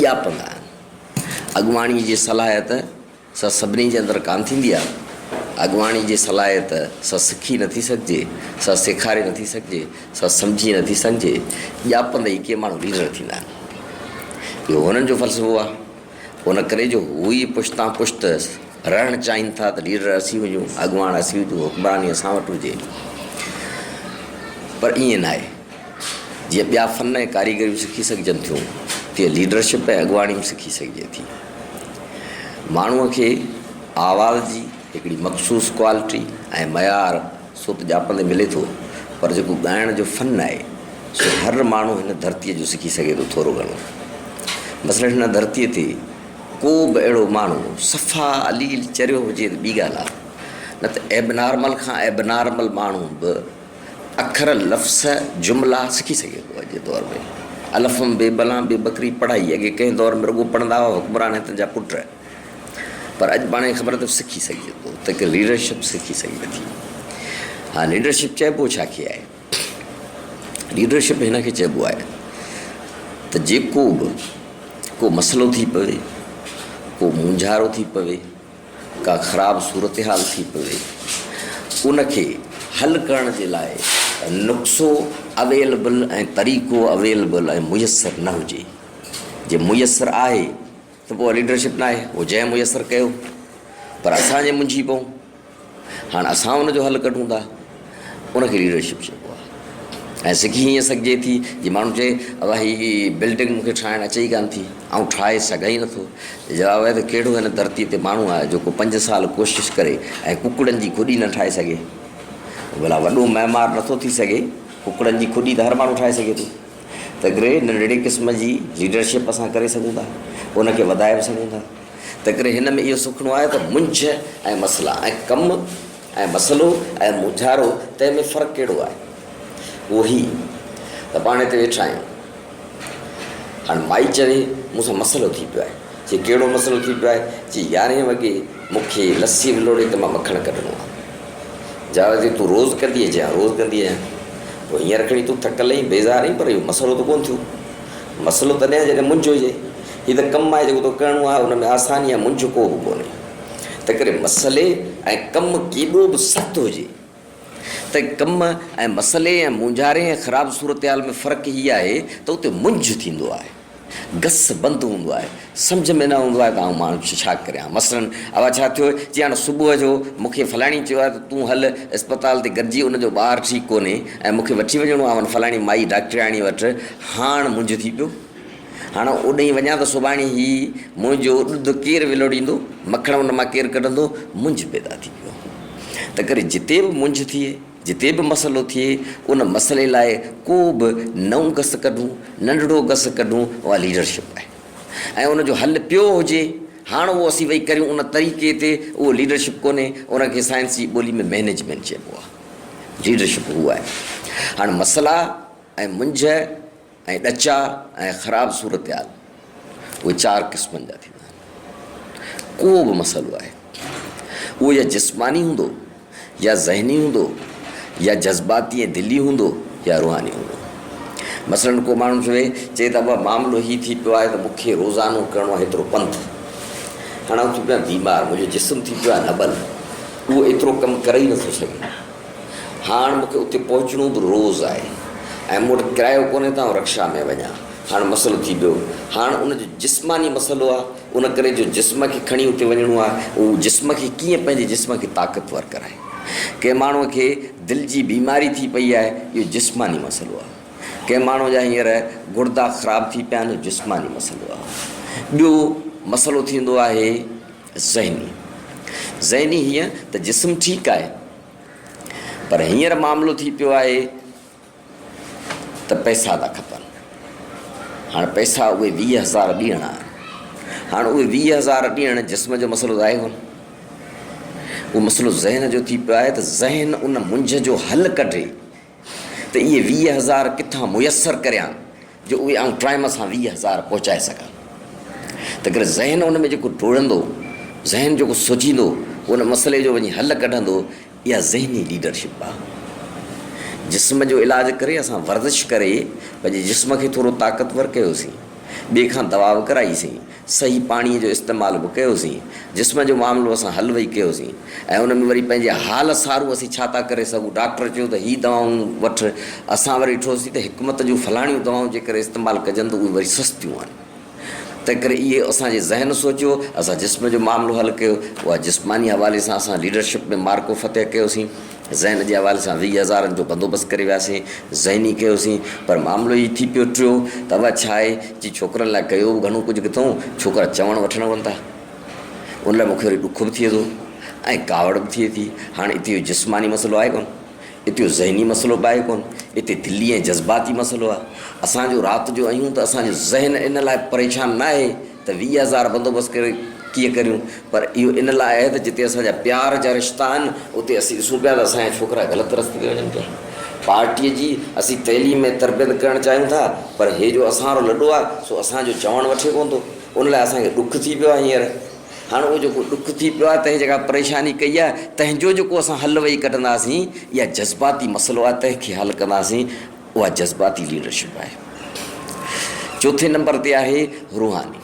ڄاپندا آهن. اڳواڻي جي صلاحيت سا سڀني جي اندر ڪانه ٿيندي آهي. اڳواڻي جي صلاحيت سا سکي نٿي سگهجي، سا سيکاري نٿي سگهجي، سا سمجهي نٿي سگهجي. ڄاپندي ئي ڪي ماڻهو ليڊر ٿيندا آهن. اهو هنن جو فلسفو آهي. ان ڪري جو هو ئي پشتان پشت رهڻ چاهين ٿا ته ليڊر اسين هجون، اڳواڻ اسين هجون، حڪمراني اسان وٽ هجي. پر ائين ناهي. جيئن ٻيا فن ۽ ڪاريگريون سکي سگهجن ٿيون، تيئن ليڊرشپ ۽ اڳواڻي به سکي سگهجي ٿي. ماڻهوء کي آواز جي هڪڙي مخصوص ڪوالٽي ۽ معيار سو ته ڄاپندي ملي ٿو، پر جيڪو ڳائڻ جو فن آهي، سو هر ماڻهو هن ڌرتيء جو سکي سگهي ٿو ٿورو گهڻو. مثلاً هن ڌرتيء تي ڪو به اهڙو ماڻهو صفا عليل چريو هجي ته ٻي ڳالهه آهي، نه ته ايبنارمل کان ايبنارمل ماڻهو به اکر، لفظ، جملا سکي سگهي ٿو. اڄ جي دور ۾ الفم بي بلان بي بڪري پڙهائي اڳي ڪنهن دور ۾ رڳو پڙهندا هئا حڪمران ۽ تن جا پٽ پر اڄ پاڻ کي خبر اٿم سکي سگهجي ٿو ته ڪي ليڊرشپ سکي سگهجي ٿي ها ليڊرشپ چئبو ڇا کي آهي ليڊرشپ هن کي چئبو آهي ته جيڪو به ڪو مسئلو ٿي پوي ڪو مونجهارو ٿي پوي ڪا خراب صورتحال ٿي پوي ان کي حل ڪرڻ جي لاء نقصو اويلبل ۽ طريقو اويلبل ۽ ميسر نه هجي جي ميسر آهي ته پوء ليڊرشپ ناهي اهو جنهن ميسر ڪيو پر اسان جي منجهي پئون. هاڻ اسان ان جو حل ڪڍون ٿا، ان کي ليڊرشپ چئبو آهي ۽ سکي هيئن سگهجي ٿي جي ماڻهو چئي ابا هي بلڊنگ مون کي ٺاهڻ اچي ئي ڪانه ٿي، آئون ٺاهي سگهان ئي نٿو. جواب آهي ته ڪهڙو هن ڌرتي تي ماڻهو آهي جيڪو پنج سال ڪوشش ڪري ۽ ڪڪڙن جي کڏي نه ٺاهي سگهي. ڀلا وڏو معمار نٿو ٿي سگهي، ڪڪڙن جي کڏي ته هر ماڻهو ٺاهي سگهي ٿو. تنهنڪري ننڍڙي قسم جي ليڊرشپ اسان ڪري سگهون ٿا، ان کي وڌائي به سگهون ٿا. تنهنڪري هن ۾ اهو سکڻو آهي ته منجهه ۽ مسئلا ۽ ڪم ۽ مسئلو ۽ مونجهارو تنهن ۾ فرق ڪهڙو آهي؟ اهو هي ته پاڻ هتي ويٺا آهيون. هاڻ مائي چوي مون سان مسئلو ٿي پيو آهي. چي ڪهڙو مسئلو ٿي پيو آهي؟ چي يارهين وڳي مون کي لسي ولوڙي ته مان مکڻ ڪڍڻو آهي. جاويد چي تون روز ڪندينء؟ چي ها روز ڪندي آهيان. پوء هينئر کڻي تون ٿڪل ۽ بيزار آهين پر اهو مسئلو ته ڪونه ٿيو. مسئلو تڏهن آهي جڏهن منجهه هجي. هي ته ڪم آهي جيڪو توکي ڪرڻو آهي، ان ۾ آساني يا منجهه ڪو به ڪونهي. تنهنڪري مسئلي ۽ ڪم ڪيڏو به سخت هجي ته ڪم ۽ مسئلي ۽ مونجهاري ۽ خراب صورتحال ۾ فرق هي آهي ته اتي منجهه ٿيندو آهي، گس بند هوندو آهي، سمجهه ۾ نه هوندو آهي ته آئون ماڻهو ڇا ڪريان. مثلاً اها ڇا ٿيو جي هاڻ صبح جو مون کي فلاڻي چيو آهي ته تون هل اسپتال تي گڏجي ان جو ٻار ٺيڪ ڪونهي ۽ مون کي وٺي وڃڻو آهي ان فلاڻي مائي ڊاڪٽرياڻي وٽ هاڻ منجهه ٿي پيو. هاڻ اوڏهين وڃان ته سڀاڻي هي منهنجو ڏڌ ڪير ولوڙيندو، مکڻ ان مان ڪير ڪڍندو، منجهه پيدا ٿي ويو. تنهنڪري جتي به منجهه ٿئي، جتي به مسئلو ٿئي، ان مسئلي لاء ڪو به نئون گس ڪڍون، ننڍڙو گس ڪڍون، اها ليڊرشپ آهي. ۽ ان جو حل پيو هجي، هاڻ اهو اسين ويهي ڪريون ان طريقي تي، اهو ليڊرشپ ڪونهي، ان کي سائنس جي ٻولي ۾ مينيجمينٽ چئبو آهي. ليڊرشپ هو آهي. هاڻ مسئلا ۽ منجهه. ۽ ڏچا ۽ خراب صورتحال اهي چار قسمن جا ٿيندا آهن. ڪو به مسئلو آهي اهو يا جسماني هوندو يا ذهني هوندو يا جذباتي ۽ دلي هوندو يا روحاني هوندو. مثلاً ڪو ماڻهو چوي چي ته ابا معاملو هي ٿي پيو آهي ته مون کي روزانو ڪرڻو آهي ايترو پنڌ. هاڻي آئون ٿي پيو آهيان بيمار، منهنجو جسم ٿي پيو آهي نٻل، اهو ايترو ڪم ڪري ئي نٿو سگهي. هاڻ مون کي اتي پهچڻو به روز آهي ۽ مون وٽ ڪرايو ڪونهي ته آئون رڪشا ۾ وڃان. هاڻ مسئلو ٿي پيو. هاڻ ان جو جسماني مسئلو آهي. ان ڪري جو جسم کي کڻي اتي وڃڻو آهي. هو جسم کي ڪيئن پنهنجي جسم کي طاقتور ڪرائي. ڪنهن ماڻهوء کي دل جي بيماري ٿي پئي آهي، اهو جسماني مسئلو آهي. ڪنهن ماڻهوء جا هينئر گڙدا خراب ٿي پيا آهن، اهو جسماني مسئلو آهي. ٻيو مسئلو ٿيندو آهي. ذهني ذهني هيئن ته جسم ٺيڪ آهي پر هينئر معاملو ٿي پيو آهي ته پئسا ٿا کپن هاڻ پئسا اهي ويهه هزار ڏيڻا آهن هاڻ اهي ويهه هزار ڏيڻ جسم جو مسئلو ظاهر هو اهو مسئلو ذهن جو ٿي پيو آهي ته ذهن ان منجهه جو حل ڪڍي ته اهي ويهه هزار ڪٿان ميسر ڪريان جو اهي آئون ٽائيم سان ويهه هزار پهچائي سگهان. تنهنڪري ذهن ان ۾ جيڪو ڊوڙندو، ذهن جيڪو سوچيندو، پوء ان مسئلي جو وڃي حل ڪڍندو، اها ذهني ليڊرشپ آهي. جسم جو علاج ڪري اسان ورزش ڪري پنهنجي جسم کي ٿورو طاقتور ڪيوسين، ٻئي کان دوا به ڪرائي سين، صحيح پاڻيء جو استعمال به ڪيوسين. جسم جو معاملو اسان حل وئي ڪيوسين ۽ ان ۾ وري پنهنجي حال سارو اسين ڇا ٿا ڪري سگهون. ڊاڪٽر چيو ته هي دوائون وٺ. اسان وري ڏٺوسين ته حڪمت جون فلاڻيون دوائون جيڪر استعمال ڪجن ته اهي وري سستيون آهن. تنهنڪري اهي اسان جي ذهن سوچيو، اسان جسم جو معاملو حل ڪيو. اها جسماني حوالي سان اسان ليڊرشپ ۾ معرڪو فتح ڪيوسين. ذهن جي حوالي سان ويهه هزارن جو بندوبست ڪري وياسين، ذهني ڪيوسين، پر معاملو هي ٿي پيو ٽيو ته اها ڇا آهي جي ڇوڪرن لاء ڪيو به گهڻو ڪجهه ڪٿئون، ڇوڪرا چوڻ وٺڻ هئن ٿا. ان لاء مون کي وري ڏک به ٿئي ٿو ۽ ڪاوڙ به ٿئي ٿي. هاڻ اتي اهو جسماني مسئلو آهي ڪونه، اتي اهو ذهني مسئلو به آهي ڪونه، اتي دلي ۽ جذباتي مسئلو آهي. اسان جو رات جو اهيون ته اسان جو ذهن ان لاء پريشان ناهي، ته ويهه هزار بندوبست ڪري ڪيئن ڪريون؟ پر اهو ان لاء آهي ته جتي اسان جا پيار جا رشتا آهن، اتي اسين ڏسون پيا ته اسان جا ڇوڪرا غلط رستي تي وڃن پيا. پارٽيء جي اسين تعليم ۽ تربيت ڪرڻ چاهيون ٿا، پر هي جو اسان وارو لڏو آهي، سو اسان جو چوڻ وٺي ڪونه ٿو. ان لاء اسان کي ڏک ٿي پيو آهي هينئر. هاڻ اهو جيڪو ڏک ٿي پيو آهي، تنهن جيڪا پريشاني ڪئي آهي، تنهن جو جيڪو اسان حل ويهي ڪڍنداسين، يا جذباتي مسئلو آهي، تنهن کي حل ڪنداسين. اها جذباتي ليڊرشپ آهي. چوٿين نمبر تي آهي روحاني.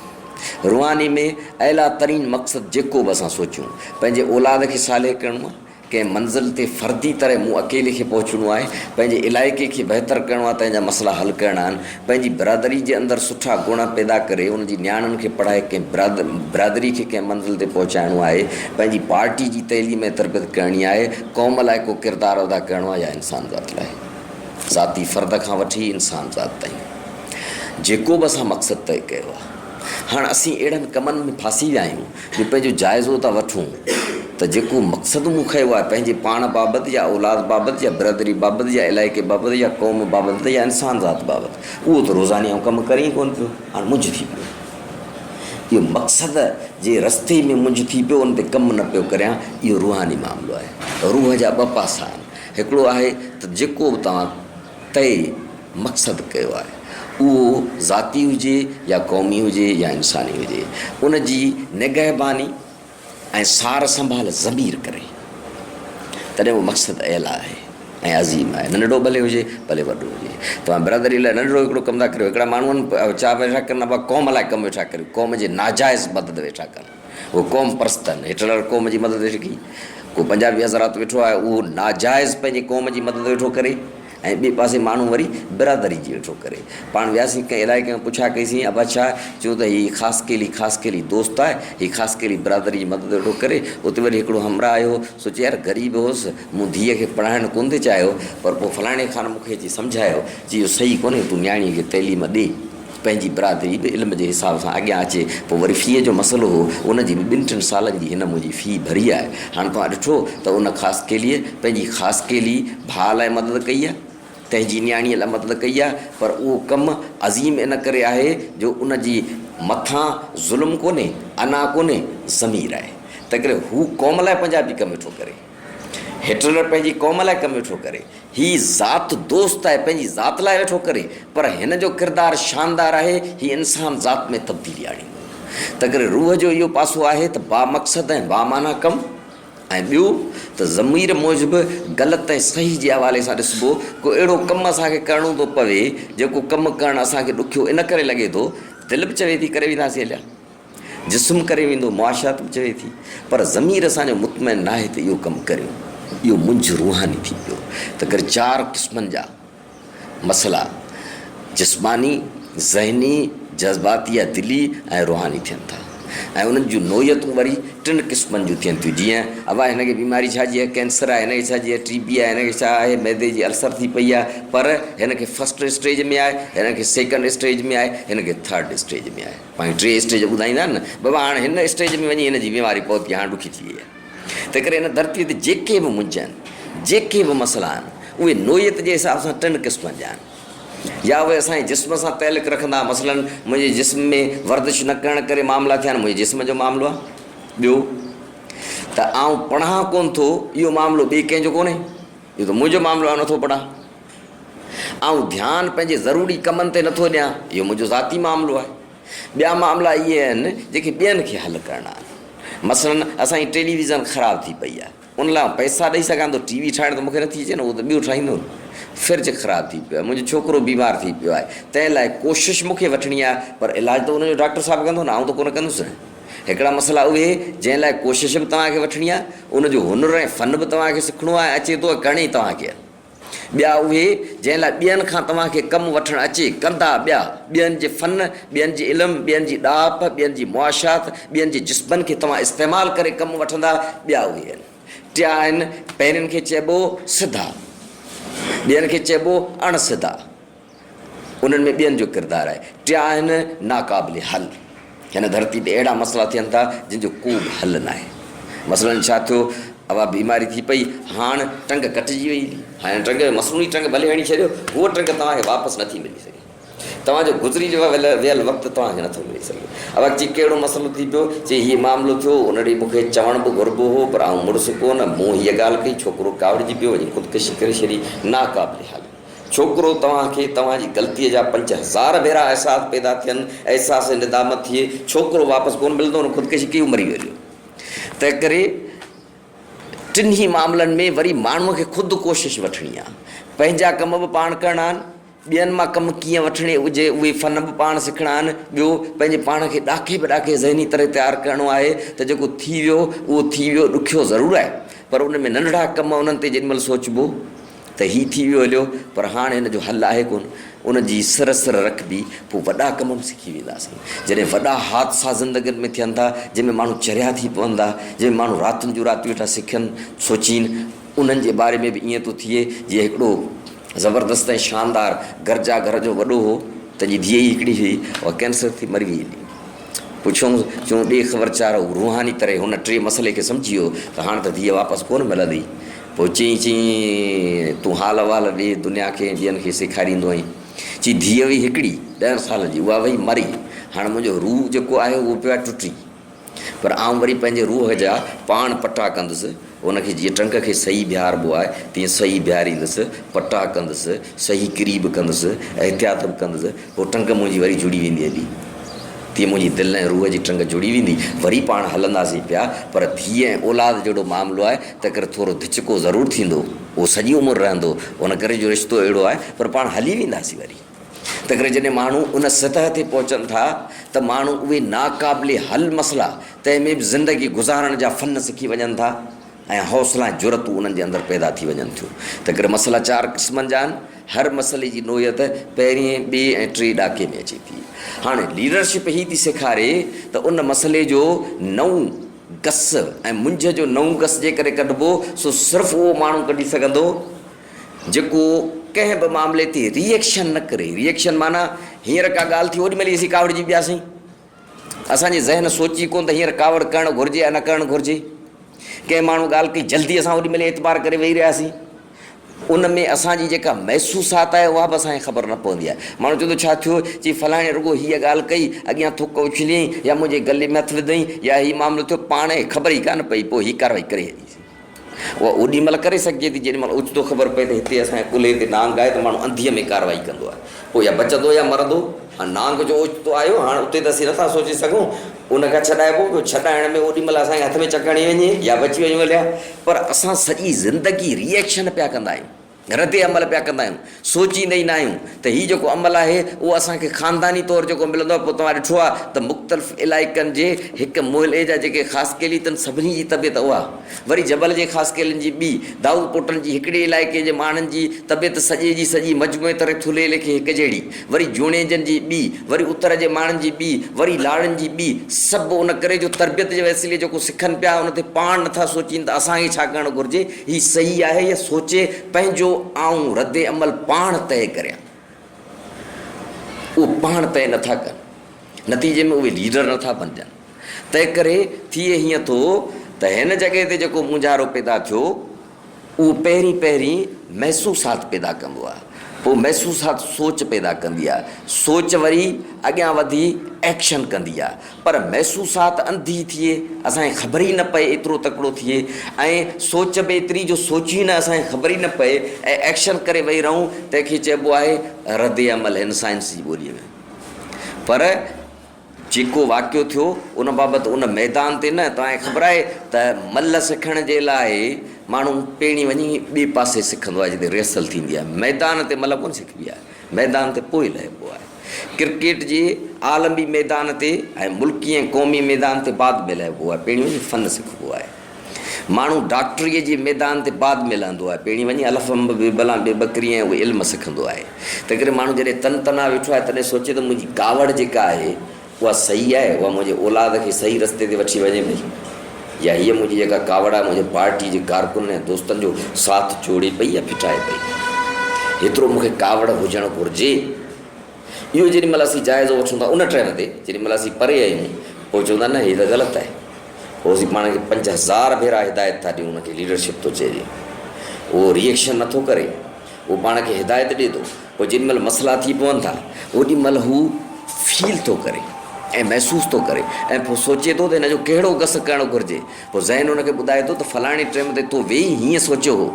روحاني ۾ اعليٰ ترين مقصد جيڪو به اسان سوچيون، پنهنجي اولاد کي صالح ڪرڻو آهي، ڪنهن منزل تي فردي طرح مون اڪيلي کي پهچڻو آهي، پنهنجي علائقي کي بهتر ڪرڻو آهي، تنهن جا مسئلا حل ڪرڻا آهن، پنهنجي برادري جي اندر سٺا گڻ پيدا ڪري ان جي نياڻين کي پڙهائي ڪنهن برادري کي ڪنهن منزل تي پهچائڻو آهي، پنهنجي پارٽي جي تعليم ۽ تربيت ڪرڻي آهي، قوم لاء ڪو ڪردار ادا ڪرڻو آهي يا انسان ذات لاء. ذاتي فرد کان وٺي انسان ذات تائين جيڪو به اسان مقصد طئي ڪيو آهي هاڻ اسين اهڙن ڪمن ۾ ڦاسي ويا آهيون جو پنهنجو جائزو ٿا وٺون ته جيڪو مقصد مون کنيو آهي پنهنجي پاڻ بابت يا اولاد بابت يا برادري بابت يا علائقي بابت يا قوم بابت يا انسان ذات بابت اهو ته روزاني آئون ڪم ڪري ئي ڪونه پيو هاڻ منجهه ٿي پيو اهو مقصد جي رستي ۾ منجهه ٿي پيو ان تي ڪم نه پيو ڪريان اهو روحاني معاملو آهي روح جا ٻه پاسا آهن هڪڙو آهي ته جيڪو به توهان طئي مقصد ڪيو آهي اهو ذاتي هجي يا قومي هجي يا انساني هجي ان جي نگهباني ۽ سار سنڀال ضمير ڪري تڏهن اهو مقصد اعليٰ آهي ۽ عظيم آهي ننڍڙو ڀلي هجي ڀلي وڏو هجي توهان برادري لاء ننڍڙو هڪڙو ڪم ٿا ڪريو هڪڙا ماڻهون چاهه ويٺا ڪن ابا قوم لاء ڪم ويٺا ڪريو قوم جي ناجائز مدد ويٺا ڪن هو قوم پرستن، هٽلر قوم جي مدد هيٺ ڪئي. ڪو پنجابي حضرات ويٺو آهي اهو ناجائز پنهنجي قوم جي مدد ويٺو ڪري ۽ ٻئي پاسي ماڻهو وري برادري جي ويٺو ڪري. پاڻ وياسين ڪنهن علائقي ۾ پڇا ڪئيسين ابا ڇا؟ چيو ته هي خاصخيلي خاصخيلي دوست آهي، هي خاصخيلي برادري جي مدد ويٺو ڪري. اتي وري هڪڙو همراهه آيو هو، سوچي يار غريب هوس، مون ڌيء کي پڙهائڻ ڪونه ٿي چاهيو پر پوء فلاڻي خان مون کي اچي سمجهايو، چي اهو صحيح ڪونهي تون نياڻيء کي تعليم ڏي. پنهنجي برادري به علم جي حساب سان اڳيان اچي پوء وري في جو مسئلو هو ان جي به ٻن ٽن سالن جي هن منهنجي في ڀري آهي هاڻ توهان ڏٺو ته ان خاصخيليء پنهنجي خاصخيلي ڀاء لاء مدد ڪئي آهي تنهنجي نياڻيء لاء مدد ڪئي آهي پر اهو ڪم عظيم ان ڪري آهي جو ان جي مٿان ظلم ڪونهي انا ڪونهي ضمير آهي تنهنڪري هو قوم لاء پنهنجا به ڪم ٿو ڪري. هٽلر پنهنجي قوم لاء ڪم ويٺو ڪري. هي ذات دوست آهي، پنهنجي ذات لاء ويٺو ڪري. پر هن جو ڪردار شاندار آهي، هي انسان ذات ۾ تبديلي آڻيندو. تنڪري روح جو اهو پاسو آهي ته بامقصد ۽ بامعنيٰ ڪم ۽ ٻيو ته ضمير موجب غلط ۽ صحيح جي حوالي سان ڏسبو. ڪو اهڙو ڪم اسان کي ڪرڻو ٿو پوي، جيڪو ڪم ڪرڻ اسان کي ڏکيو ان ڪري لڳي ٿو، دل به چوي ٿي ڪري وينداسين اليا. جسم ڪري ويندو، معاشيات به چوي ٿي، پر ضمير اسان جو مطمئن ناهي ته اهو ڪم ڪريون. اهو منجهه روحاني ٿي پيو. تنڪري چار قسمن جا مسئلا جسماني، ذهني، جذباتي يا دلي ۽ روحاني ٿين ٿا ۽ انهن جون نوعيتون وري ٽن قسمن جون ٿين ٿيون جيئن، اوا هن کي بيماري ڇا جي آهي، ڪينسر آهي، هن کي ڇا جي آهي، ٽي بي آهي، هن کي ڇا آهي، معدي جي السر ٿي پئي آهي، پر هن کي فرسٽ اسٽيج ۾ آهي، هن کي سيڪنڊ اسٽيج ۾ آهي، هن کي ٿرڊ اسٽيج ۾ آهي. پنهنجون ٽي اسٽيج ٻڌائيندا آهن نه بابا هاڻ هن اسٽيج ۾ وڃي هن جي بيماري فوت ٿي هاڻ ڏکي ٿي وئي آهي تنهنڪري هن ڌرتي تي جيڪي به منجهه آهن جيڪي به مسئلا آهن اهي نوعيت جي حساب سان ٽن قسمن جا آهن يا اهي اسان جي جسم سان تعلق رکندا مثلا منهنجي جسم ۾ ورزش نه ڪرڻ ڪري معاملا ٿيا آهن منهنجي جسم جو معاملو آهي ٻيو ته آئون پڙهان ڪونه ٿو اهو معاملو ٻئي ڪنهن جو ڪونهي اهو ته منهنجو معاملو آهي نٿو پڙهان آئون ڌيان پنهنجي ضروري ڪمن تي نٿو ڏيان، اهو منهنجو ذاتي معاملو آهي. ٻيا معاملا اهي آهن، جيڪي ٻين کي حل ڪرڻا آهن. مثلاً اسان جي ٽيلي ويزن خراب ٿي پئي آهي. ان لاء آئون پئسا ڏئي سگهان ٿو، ٽي وي ٺاهڻ ته مون کي نٿي اچي نه، اهو ته ٻيو ٺاهيندو نه. فرج خراب ٿي پيو آهي، منهنجو ڇوڪرو بيمار ٿي پيو آهي، تنهن لاء ڪوشش مون کي وٺڻي آهي، پر علاج ته ان جو ڊاڪٽر صاحب ڪندو نه، آئون ته ڪونه ڪندس نه. هڪڙا مسئلا اهي، جنهن لاء ڪوشش به توهان کي وٺڻي آهي، ان جو هنر ۽ فن به توهان کي سکڻو آهي، اچي ٿو ۽ ڪرڻي توهان کي آهي. ٻيا اهي، جنهن لاء ٻين کان توهان کي ڪم وٺڻ اچي، ڪندا ٻيا، ٻين جي فن، ٻين جي علم، ٻين جي ڏاهپ، ٻين جي معاشيات، ٻين جي جسمن کي توهان استعمال ڪري ڪم وٺندا، ٻيا اهي آهن. ٽيا آهن، پهرين کي چئبو سڌا، ٻين کي چئبو اڻ سڌا. انهن ۾ ٻين جو ڪردار آهي. ٽيا آهن ناقابل حل. هن ڌرتي تي اهڙا مسئلا ٿين ٿا، جن جو ڪو به حل ناهي. مثلاً ڇا ٿيو، اها بيماري ٿي پئي، هاڻ ٽنگ ڪٽجي وئي. هن ٽنگ کي مصنوعي ٽنگ ڀلي هڻي ڇڏيو، هوء ٽنگ توهان کي واپس نٿي ملي سگهي. توهان جو گذري ويل وقت توهان کي نٿو ملي سگهي. اها چي ڪهڙو مسئلو ٿي پيو؟ چي هيء معاملو ٿيو، ان ڏي مون کي چوڻ به گهربو هو، پر آئون مڙس ڪو نه. مون هيء ڳالهه ڪئي، ڇوڪرو ڪاوڙجي پيو، وڃي خودڪشي ڪري ڇڏي. ناقابل حل. ڇوڪرو توهان کي توهان جي غلطيء جا پنج هزار ڀيرا احساس پيدا ٿين، احساس ندامت ٿئي، ڇوڪرو واپس ڪونه ملندو، هن خودڪشي ڪئي هو مري ويو. تنهنڪري ٽنهي معاملن ۾ وري ماڻهوء کي خود ڪوشش وٺڻي آهي. پنهنجا ڪم به پاڻ ڪرڻا آهن، ٻين مان ڪم ڪيئن وٺڻي هجي اهي فن به پاڻ سکڻا آهن، ٻيو پنهنجي پاڻ کي ڏاکي به ڏاکي ذهني طرح تيار ڪرڻو آهي ته جيڪو ٿي ويو اهو ٿي ويو، ڏکيو ضرور آهي پر ان ۾ ننڍڙا ڪم انهن تي جيڏي مهل سوچبو ته هي ٿي ويو هليو پر هاڻ هن جو حل آهي ڪونه. ان جي سر سر رکبي پوء وڏا ڪم به سکي وينداسين. جڏهن وڏا حادثا زندگين ۾ ٿين ٿا، جنهن ۾ ماڻهو چريا ٿي پون ٿا، جنهن ۾ ماڻهو راتين جون راتيون ويٺا سکين سوچين، انهن جي باري ۾ به ائين ٿو ٿئي جيئن هڪڙو زبردست ۽ شاندار گرجا گهر جو وڏو هو، تنهن جي ڌيء ئي هڪڙي هئي، اها ڪينسر ٿي مري ويئي هلي. پڇيوم چون ڏي خبر چار هو روحاني طرح هن ٽي مسئلي کي سمجهي ويو ته هاڻ ته ڌيء واپس ڪونه ملندي. پوء چيائين، چيائين، تون حال احوال ڏي دنيا کي ۽ ٻين کي سيکاريندو آهين. چي، ڌيء هئي هڪڙي، ڏهن سالن جي، اها وئي مري، هاڻ منهنجو روح جيڪو آهي اهو پيو آهي ٽٽي، پر آئون وري پنهنجي روح جا پاڻ پٽا ڪندس، ان کي جيئن ٽنگ کي سهي بيهاربو آهي، تيئن سهي بيهاريندس، پٽا ڪندس، سهي ڪري به ڪندس، احتياط به ڪندس، پوء ٽنگ منهنجي وري جڙي ويندي هلي، تيئن منهنجي دل ۽ روح جي ٽنگ جڙي ويندي، وري پاڻ هلنداسين پيا، پر ڌيء ۽ اولاد جهڙو معاملو آهي، تنهنڪري ٿورو ڌچڪو ضرور ٿيندو، اهو سڄي عمر رهندو، ان ڪري جو رشتو اهڙو آهي، پر پاڻ هلي وينداسين وري. تنهنڪري جڏهن ماڻهو ان سطح تي پهچن ٿا ته ماڻهو اهي ناقابل حل مسئلا، تنهن ۾ به زندگي گذارڻ جا فن سکي وڃن ٿا ۽ حوصلا ۽ جرئتون انهن جي اندر پيدا ٿي وڃن ٿيون. تنهنڪري مسئلا چار قسمن جا آهن، هر مسئلي جي نوعيت پهرئين، ٻئي ۽ ٽئين ڏاڪي ۾ اچي ٿي. هاڻي ليڊرشپ هي ٿي سيکاري ته ان مسئلي جو نئون، گس ۽ منجهه جو نئون گس جيڪڏهن ڪڍبو سو صرف اهو ماڻهو ڪڍي سگهندو جيڪو ڪنهن به معاملي تي ري ايڪشن نه ڪري، ري ايڪشن معنيٰ هينئر ڪا ڳالهه ٿي اوڏيمهل ئي اسين ڪاوڙجي پياسين. اسان جي ذهن سوچي ڪونه ته هينئر ڪاوڙ ڪرڻ گهرجي يا نه ڪرڻ گهرجي. ڪنهن ماڻهو ڳالهه ڪئي جلدي اسان اوڏيمهل ئي اعتبار ڪري ويهي رهياسين. ان ۾ اسان جي جيڪا محسوسات آهي اها به اسان کي خبر نه پوندي آهي. ماڻهو چوندو ڇا ٿيو؟ چي فلاڻي رڳو هيء ڳالهه ڪئي، اڳيان ٿڪ اڇليائين يا منهنجي گلي ۾ هٿ وڌائين يا هي معاملو ٿيو، پاڻ کي خبر ئي ڪانه پئي، پوء هي ڪارروائي ڪري هلي وئي. اها اوڏي مهل ڪري سگهجي ٿي جيڏي مهل اوچتو خبر پئي ته هتي اسان جي ڪلهي تي نانگ آهي ته ماڻهو انڌيء ۾ ڪارروائي ڪندو آهي. پوء يا بچندو يا مرندو. هاڻ نانگ جو اوچتو آيو، هاڻ اتي ته اسين نه ٿا سوچي سگهون. ان کان ڇڏائبو، ٻيو ڇڏائڻ ۾ اوڏي مهل اسان کي هٿ ۾ چڪ هڻي وڃي يا بچي وڃون هليا. پر اسان سڄي زندگي ري ايڪشن پيا ڪندا آهيون، رد عمل پيا ڪندا آهيون، سوچيندا ئي نه آهيون ته هي جيڪو عمل آهي اهو اسان کي خانداني طور جيڪو ملندو آهي، پوء توهان ڏٺو آهي ته مختلف علائقن جي هڪ محلي جا جيڪي خاص قيلي تن سڀني جي طبيعت اها، وري جبل جي خاص قيلين جي ٻي، دائود پوٽن جي هڪڙي علائقي جي ماڻهن جي طبيعت سڄي جي سڄي مجموعي طرح ٿلهي ليکي هڪجهڙي، وري جوڻيجن جي ٻي، وري اتر جي ماڻهن جي ٻي، وري لاڙن جي ٻي، سڀ ان ڪري جو تربيت جي وسيلي جيڪو سکن پيا ان تي پاڻ نه ٿا سوچين ته اسان کي ڇا ڪرڻ گهرجي، هي صحيح آهي يا سوچي پنهنجو آئون رد عمل پاڻ طئي ڪريان. اهو پاڻ طئي نه ٿا ڪن. نتيجي ۾ اهي ليڊر نه ٿا بنجن. تنهن ڪري ٿئي هيئن ٿو ته هن جڳهه تي جيڪو مونجهارو پيدا ٿيو، اهو پهرين پهرين محسوسات پيدا ڪندو آهي، پوء محسوسات سوچ پيدا ڪندي آهي، سوچ وري اڳيان وڌي ايڪشن ڪندي آهي، پر محسوسات انڌي ٿئي، اسان کي خبر ئي نه پئي ايترو تڪڙو ٿئي ۽ سوچ به ايتري جو سوچيون ئي نه اسان کي خبر ئي نه پئي ۽ ايڪشن ڪري ويهي رهون، تنهن کي چئبو آهي رد عمل، هن سائنس جي ٻوليء ۾ پر. جيڪو واقعو ٿيو ان بابت ان ميدان تي نه توهان کي خبر آهي ته ملهه سکڻ جي لاء ماڻهو پهرين وڃي ٻئي پاسي سکندو آهي جتي ريهرسل ٿيندي آهي ميدان تي ملهه ڪونه سکبي آهي ميدان تي پوء لهبو آهي ڪرڪيٽ جي عالمي ميدان تي ۽ ملڪي ۽ قومي ميدان تي بعد ۾ لهبو آهي پهرين وڃي فن سکبو آهي ماڻهو ڊاڪٽريء جي ميدان تي بعد ۾ لهندو آهي، پهرين وڃي الف انب، بي بلان بي بڪري ۽ اهو علم سکندو آهي. تنهنڪري ماڻهو جڏهن تن تنها ويٺو آهي، تڏهن سوچي ته منهنجي ڪاوڙ جيڪا آهي، اها صحيح آهي؟ اها منهنجي اولاد کي صحيح رستي تي وٺي وڃي پئي؟ يا هيء منهنجي جيڪا ڪاوڙ آهي، منهنجي پارٽيء جي ڪارڪنن ۽ دوستن جو ساٿ جوڙي پئي يا ڦٽائي پئي؟ هيترو مون کي ڪاوڙ هجڻ گهرجي. اهو جيڏي مهل اسين جائزو وٺون ٿا ان ٽرين تي جيڏي مهل اسين پري آهيون پوء چون ٿا نه هي ته غلط آهي پوء اسين پاڻ کي پنج هزار ڀيرا هدايت ٿا ڏيون ان کي ليڊرشپ ٿو چئجي اهو ريئڪشن نٿو ڪري اهو پاڻ کي هدايت ڏي ٿو پوء جيڏي مهل مسئلا ٿي پون ٿا اوڏي مهل هو فيل ٿو ڪري ۽ محسوس ٿو ڪري ۽ پوء سوچي ٿو ته هن جو ڪهڙو گس ڪرڻ گهرجي پوء ذهن ان کي ٻڌائي ٿو ته فلاڻي ٽرين تي تو ويهي هيئن سوچيو هو.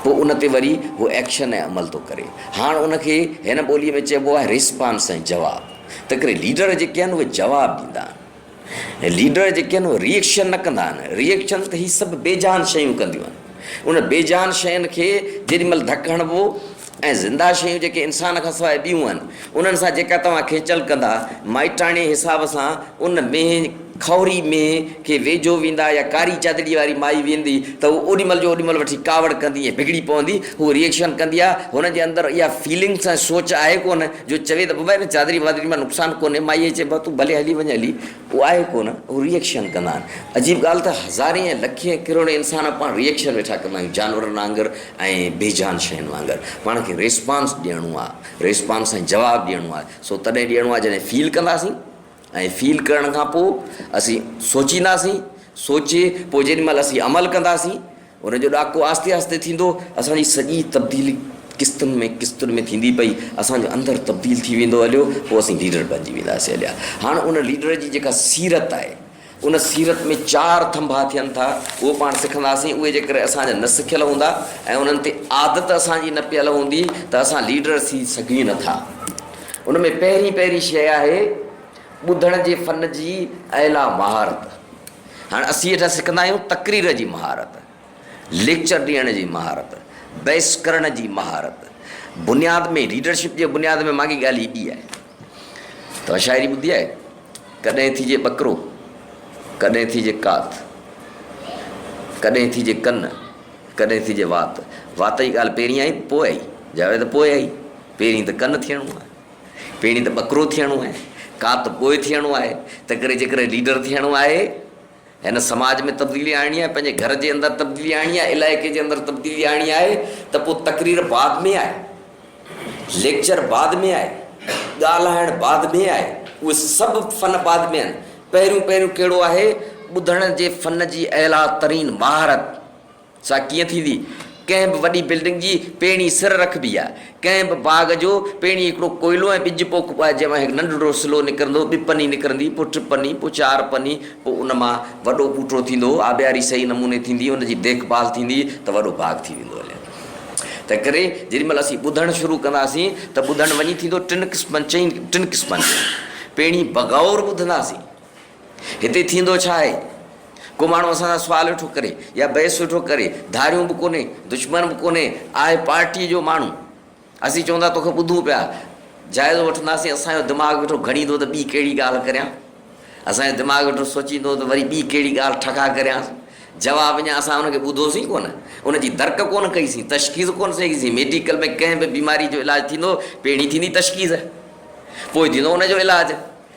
پوء ان تي وري هو ايڪشن ۽ عمل ٿو ڪري. هاڻ ان کي هن ٻوليء ۾ چئبو آهي ريسپانس ۽ جواب. تنهنڪري ليڊر جيڪي آهن اهي جواب ڏيندا آهن. ليڊر جيڪي آهن اهي ريئڪشن نه ڪندا آهن. ريئڪشن ته هي سڀ بي جان شيون ڪنديون آهن. انهن بي جان شين کي جيڏي مهل ڌڪ هڻبو ۽ زنده شيون جيڪي انسان کان سواء ٻيون آهن انهن سان جيڪا توهان کيچل ڪندا، مائٽاڻي حساب سان ان مينهن، کهوري مينهن، کي ويجهو ويندا يا ڪاري چادڙي واري مائي ويندي ته هوء اوڏي مهل جو اوڏي مهل وٺي ڪاوڙ ڪندي ۽ بگڙي پوندي، هوء ريئيڪشن ڪندي آهي، هن جي اندر اها فيلنگس ۽ سوچ آهي ڪونه جو چوي ته بابا ان چادري وادري مان نقصان ڪونهي، مائيء چئبو آهي تون ڀلي هلي وڃ هلي. ڪو آهي ڪو نه هو ريئڪشن ڪندا آهن عجيب ڳالهه ته هزارين ۽ لکين ڪروڙين انسان پاڻ ريئڪشن ويٺا ڪندا آهيون جانورن آنگر ۽ بي جان شين وانگر پاڻ کي ريسپانس ڏيڻو آهي ريسپانس سان جواب ڏيڻو آهي سو تڏهن ڏيڻو آهي جڏهن فيل ڪنداسين ۽ فيل ڪرڻ کان پوء اسين سوچينداسين سوچي پوء جيڏي مهل اسين عمل ڪنداسين ان جو ڏاڪو آهستي آهستي ٿيندو اسان جي سڄي تبديلي قسطن ۾ قسطن ۾ ٿيندي پئي اسان جو اندر تبديل ٿي ويندو هليو پوء اسين ليڊر بنجي وينداسين هليا هاڻ ان ليڊر جي جيڪا سيرت آهي ان سيرت ۾ چار ٿنڀا ٿين ٿا اهو پاڻ سکنداسين اهي جيڪر اسان جا نه سکيل هوندا ۽ انهن تي عادت اسان جي نه پيل هوندي ته اسان ليڊر ٿي سگهون نه ٿا ان ۾ پهرين پهرين شيء آهي ٻڌڻ جي فن جي اعليٰ مهارت. هاڻ اسين هيٺان سکندا آهيون تقرير جي مهارت، ليڪچر ڏيڻ جي مهارت، بحث ڪرڻ جي مهارت. بنياد ۾ ليڊرشپ جي بنياد ۾ ماڳي ڳالهه هي ٻي آهي. توهان شاعري ٻڌي آهي؟ ڪڏهن ٿيجي ٻڪرو، ڪڏهن ٿيجي ڪات، ڪڏهن ٿيجي ڪن، ڪڏهن ٿيجي وات. وات جي ڳالهه پهرين آئي ته پوء آئي؟ جواب آهي ته پوء آئي. پهرين ته ڪن ٿيڻو آهي. پهرين ته ٻڪرو ٿيڻو آهي، ڪات پوء ٿيڻو آهي، تنهنڪري جيڪڏهن ليڊر ٿيڻو آهي، هن سماج ۾ تبديلي آڻڻي آهي، پنهنجي گهر جي اندر تبديلي آڻڻي آهي، علائقي جي اندر تبديلي آڻڻي آهي ته پوء تقرير بعد ۾ آهي، ليڪچر بعد ۾ آهي، ڳالهائڻ بعد ۾ آهي، اهي سڀ فن بعد ۾ آهن، پهريون پهريون ڪهڙو آهي، ٻڌڻ جي فن جي اعليٰ ترين مهارت سا ڪيئن ٿيندي؟ ڪنهن به وڏي بلڊنگ جي پيڻي سر رکبي آهي. ڪنهن به باغ جو پيڻي هڪڙو ڪوئلو ۽ ٻج پوکبو آهي، جنهن مان هڪ ننڍڙو سلو نڪرندو، ٻه پني نڪرندي، پوء ٽي پني، پوء چار پني، پوء ان مان وڏو ٻوٽو ٿيندو، آبياري صحيح نموني ٿيندي، ان جي ديک ڀال ٿيندي ته وڏو باغ ٿي ويندو هليا. تنهنڪري جيڏي مهل اسين ٻڌڻ شروع ڪنداسين ته ٻڌڻ وڃي ٿيندو ٽن قسمن، چئن، ٽن قسمن جي پيڻي بغور ٻڌنداسين. هتي ٿيندو ڇا آهي؟ ڪو ماڻهو اسان سان سوال ويٺو ڪري يا بحث ويٺو ڪري، ڌاريون به ڪونهي، دشمن به ڪونهي، آهي پارٽيء جو ماڻهو. اسين چون ٿا توکي ٻڌون پيا، جائزو وٺنداسين، اسان جو دماغ ويٺو گهڙيندو ته ٻي ڪهڙي ڳالهه ڪريان، اسان جو دماغ ويٺو سوچيندو ته وري ٻي ڪهڙي ڳالهه ٺڪا ڪريانس. جواب اڃا اسان ان کي ٻڌوسين ڪونه، ان جي درڪ ڪونه ڪئي سين، تشخيص ڪونه سين ڪئي سين. ميڊيڪل ۾ ڪنهن به بيماريء جو علاج ٿيندو، پهرين ٿيندي تشخيص، پوء ٿيندو ان جو علاج.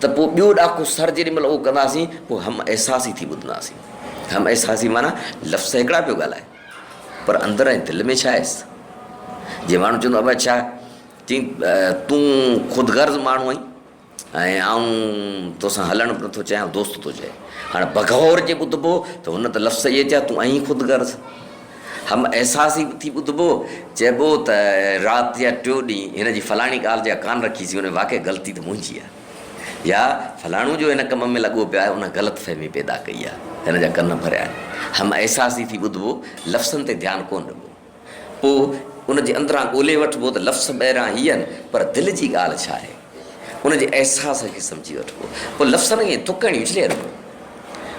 ته پوء ٻيو ڏاڪو سر جيڏي مھل اھو ڪنداسين پوء ھم احساسي ٿي ٻڌنداسين. ھم احساسي معنيٰ لفظ ته ھڪڙا پيو ڳالھائي پر اندر ۽ دل ۾ ڇا ھيس. جيئن ماڻھو چوندو ابا ڇا چين تون خود غرض ماڻھو آھين ۽ آئون توسان ھلڻ به نٿو چاھيان دوست ٿو چئي. ھاڻي بگھور جي ٻڌبو ته ھن ته لفظ اھي چيا تون آھين خود غرض. هم احساس ئي ٿي ٻڌبو، چئبو ته رات يا ٽيون ڏينهن هن جي فلاڻي ڳالهه جا ڪان رکي سين، واقعي غلطي ته منهنجي آهي يا فلاڻو جو هن ڪم ۾ لڳو پيو آهي ان غلط فهمي پيدا ڪئي آهي، هن جا ڪن ڀريا آهن. هم احساس ئي ٿي ٻڌبو، لفظن تي ڌيان ڪونه ڏبو. پوء ان جي اندران ڳولهي وٺبو ته لفظ ٻاهران هي آهن پر دل جي ڳالهه ڇا آهي؟ ان جي احساس کي سمجهي وٺبو. پوء لفظن کي ٿڪ هڻي اڇلي رکبو.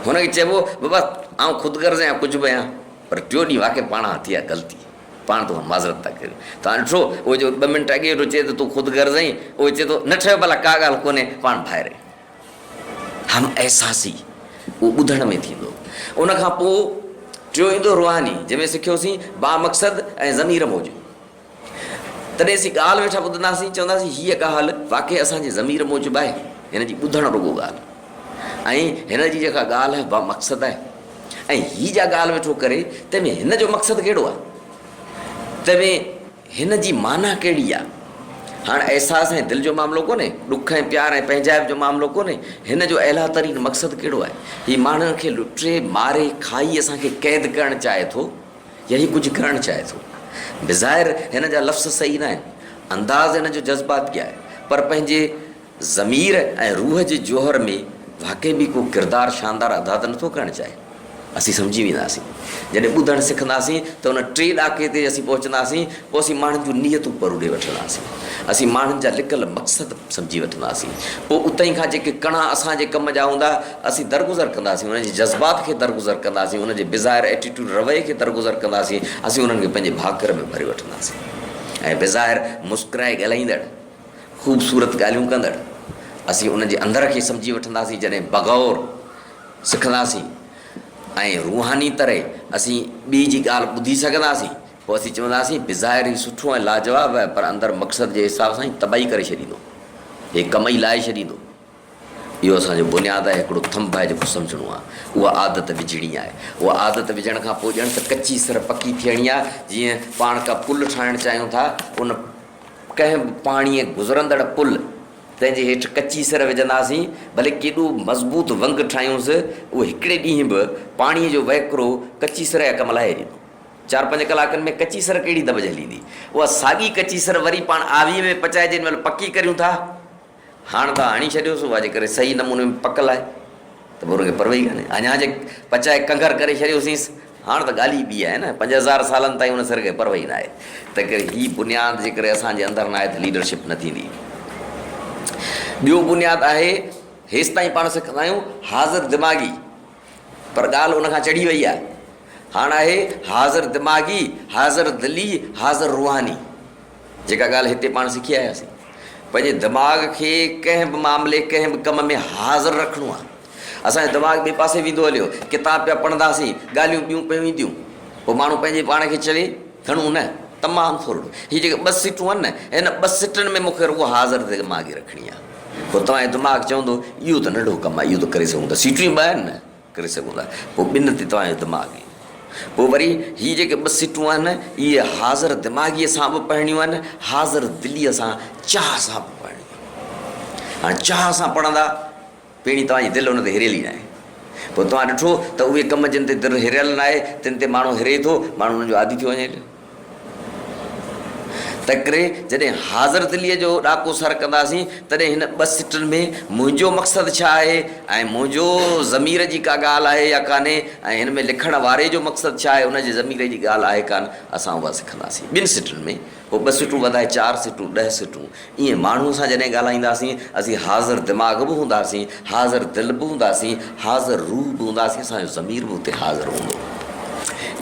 هن کي چئبو، بابا، آئون خود غرض آهيان ڪجهه به آهيان، پر ٽيون ڏينهن واقعي پاڻ کان ٿي آهي غلطي. پاڻ تو کان معذرت ٿا ڪريون. توهان ڏٺو، اهو جيڪو ٻه منٽ اڳي ويٺو چئي ته تون خود غرض آهين، اهو چئي ٿو، نه ٺهيو ڀلا ڪا ڳالهه ڪونهي، پاڻ ڀائر آهيون. هم احساسي اهو ٻڌڻ ۾ ٿيندو. ان کان پوء ٽيون ايندو روحاني، جنهن ۾ سکيوسين، بامقصد ۽ ضمير موجب. تڏهن اسين ڳالهه ويٺا ٻڌنداسين، چونداسين هيء ڳالهه واقعي اسان جي ضمير موجب آهي، هن جي ٻڌڻ رڳو ڳالهه ۽ هن جي جيڪا ڳالهه با مقصد آهي ۽ هي جا ڳالهه ويٺو ڪري تنهن ۾ هن جو مقصد ڪهڙو آهي، تنهن ۾ هن جي معنيٰ ڪهڙي آهي. هاڻ احساس ۽ دل جو معاملو ڪونهي، ڏک ۽ پيار ۽ پنهنجائپ جو معاملو ڪونهي، هن جو اعليٰ ترين مقصد ڪهڙو آهي. هي ماڻهن کي لٽي، ماري، کائي اسان کي قيد ڪرڻ چاهي ٿو. يا هي ڪجهه ڪرڻ چاهي ٿو. بظاهر هن جا لفظ صحيح ناهن، انداز هن جو جذباتي آهي، پر پنهنجي ضمير ۽ روح جي جوهر ۾ واقعي به ڪو ڪردار شاندار ادا ته نٿو ڪرڻ چاهي. اسين سمجهي وينداسين. جڏهن ٻڌڻ سکنداسين ته ان ٽئين ڏاڪي تي اسين پهچنداسين، پوء اسين ماڻهن جون نيتون پروڙي وٺنداسين. اسين ماڻهن جا لڪل مقصد سمجهي وٺنداسين. پوء اتهين کان جيڪي ڪڻا اسان جي ڪم جا هوندا، اسين درگذر ڪنداسين، انهن جي جذبات کي درگذر ڪنداسين، انهن جي بظاهر ائٽيٽوڊ رويي کي درگذر ڪنداسين، اسين انهن کي پنهنجي ڀاڪر ۾ ڀري وٺنداسين ۽ بظاهر مسڪرائي ڳالهائيندڙ، خوبصورت ڳالهيون ڪندڙ، اسين انهن جي اندر کي سمجهي وٺنداسين، جڏهن بغور سکنداسين ۽ روحاني طرح اسين ٻئي جي ڳالهه ٻڌي سگهنداسين، پوء اسين چونداسين، بظاهر هي سٺو ۽ لاجواب آهي، پر اندر مقصد جي حساب سان هي تباهي ڪري ڇڏيندو، هي ڪم ئي لاهي ڇڏيندو. اهو اسان جو بنياد آهي، هڪڙو ٿنڀ آهي جيڪو سمجهڻو آهي. اها عادت وجهڻي آهي. اها عادت وجهڻ کان پوء ڄڻ ته ڪچي سر پڪي ٿيڻي آهي. جيئن پاڻ ڪا پل ٺاهڻ چاهيون ٿا، ان ڪنهن به پاڻيء گذرندڙ پل تنهن جي هيٺ ڪچي سر وجهنداسين، ڀلي ڪيڏو مضبوط ونگ ٺاهيونس، اهو هڪڙي ڏينهن به پاڻيء جو وهڪرو ڪچي سر جا ڪم لاهي ڏيندو. چار پنج ڪلاڪن ۾ ڪچي سر ڪهڙي دٻج هليندي؟ اها ساڳي ڪچي سر وري پاڻ آويء ۾ پچائجي ان مهل پڪي ڪريون ٿا. هاڻ ته هڻي ڇڏيو سو واجي ڪري صحيح نموني ۾ پڪل آهي ته پوء ان کي پروي ئي ڪانهي. اڃا جي پچائي ڪنگر ڪري ڇڏيوسينس، هاڻ ته ڳالهه ئي ٻي آهي نه. پنج هزار سالن تائين ان سر کي پروي ئي ناهي. تنهنڪري هي بنياد جيڪڏهن اسان جي اندر ناهي ته ليڊرشپ نه ٿيندي. ٻيو بنياد آهي، هيستائين پاڻ سکندا آهيون حاضر دماغي. پر ڳالهه ان کان چڙهي وئي آهي. هاڻ آهي حاضر دماغي، حاضر دلي، حاضر روحاني. جيڪا ڳالهه هتي پاڻ سکي آياسين. پنهنجي دماغ کي ڪنهن به معاملي، ڪنهن به ڪم ۾ حاضر رکڻو آهي. اسان جو دماغ ٻئي پاسي ويندو هليو، ڪتاب پيا پڙهنداسين، ڳالهيون ٻيون پيون اينديون. پوء ماڻهو پنهنجي پاڻ کي چوي، گهڻو نه، تمام ٿورڙو. هي جيڪي ٻه سٽون آهن نه، هن ٻه سٽن ۾ مون کي رڳو حاضر دماغي رکڻي آهي. پوء توهان جو دماغ چوندو اهو ته ننڍو ڪم آهي، اهو ته ڪري سگهون ٿا، سيٽون ئي ٻه آهن نه، ڪري سگهون ٿا. پوء ٻن تي توهان جو دماغ ايندو. پوء وري هي جيڪي ٻه سيٽون آهن اهي حاضر دماغيء سان به پڙهڻيون آهن، حاضر دليء سان، چاهه سان به پڙهڻيون آهن. هاڻي چاهه سان پڙهندا، پهرين توهان جي دل ان تي هريل ئي ناهي. پوء توهان ڏٺو ته اهي ڪم جن تي دل هريل ناهي، تن تي ماڻهو هري ٿو، ماڻهو انهن جو عادي ٿيو وڃي هليو. تنهنڪري جڏهن حاضر دليء جو ڏاڪو سر ڪنداسين، تڏهن هن ٻه سٽن ۾ منهنجو مقصد ڇا آهي ۽ منهنجو ضمير جي ڪا ڳالهه آهي يا ڪانهي ۽ هن ۾ لکڻ واري جو مقصد ڇا آهي، ان جي ضمير جي ڳالهه آهي ڪانه، اسان اها سکنداسين. ٻن سٽن ۾ هو ٻه سٽون وڌائي چار سٽون، ڏهه سٽون، ايئن ماڻهوء سان جڏهن ڳالهائينداسين، اسين حاضر دماغ به هونداسين، حاضر دل به هونداسين، حاضر روح به هونداسين، اسان جو ضمير به اتي حاضر هوندو.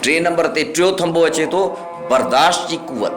ٽئين نمبر تي ٽيون ٿنڀو اچي ٿو، برداشت جي قوت.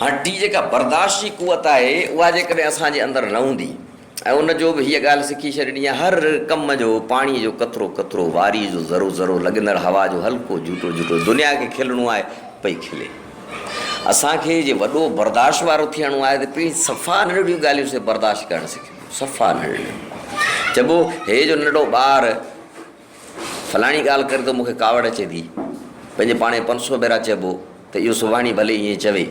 هاڻ هي جيڪا برداشت جي قوت آهي اها جيڪڏهن اسان جي اندر نه هوندي ۽ ان جو به هيء ڳالهه سکي ڇڏڻي آهي، هر ڪم جو پاڻيء جو قطرو قطرو، واريء جو ذرو ذرو، لڳندڙ هوا جو هلڪو جهوٽو جهوٽو، دنيا کي کلڻو آهي، پئي کلي. اسان کي جي وڏو برداشت وارو ٿيڻو آهي ته پهرين صفا ننڍڙيون ڳالهيون سي برداشت ڪرڻ سکبيون، صفا ننڍڙيون. چئبو هي جو ننڍڙو ٻار، فلاڻي ڳالهه ڪري ته مون کي ڪاوڙ اچي ٿي. پنهنجي پاڻ پنج سؤ ڀيرا چئبو ته اهو سڀاڻي ڀلي ائين چوي،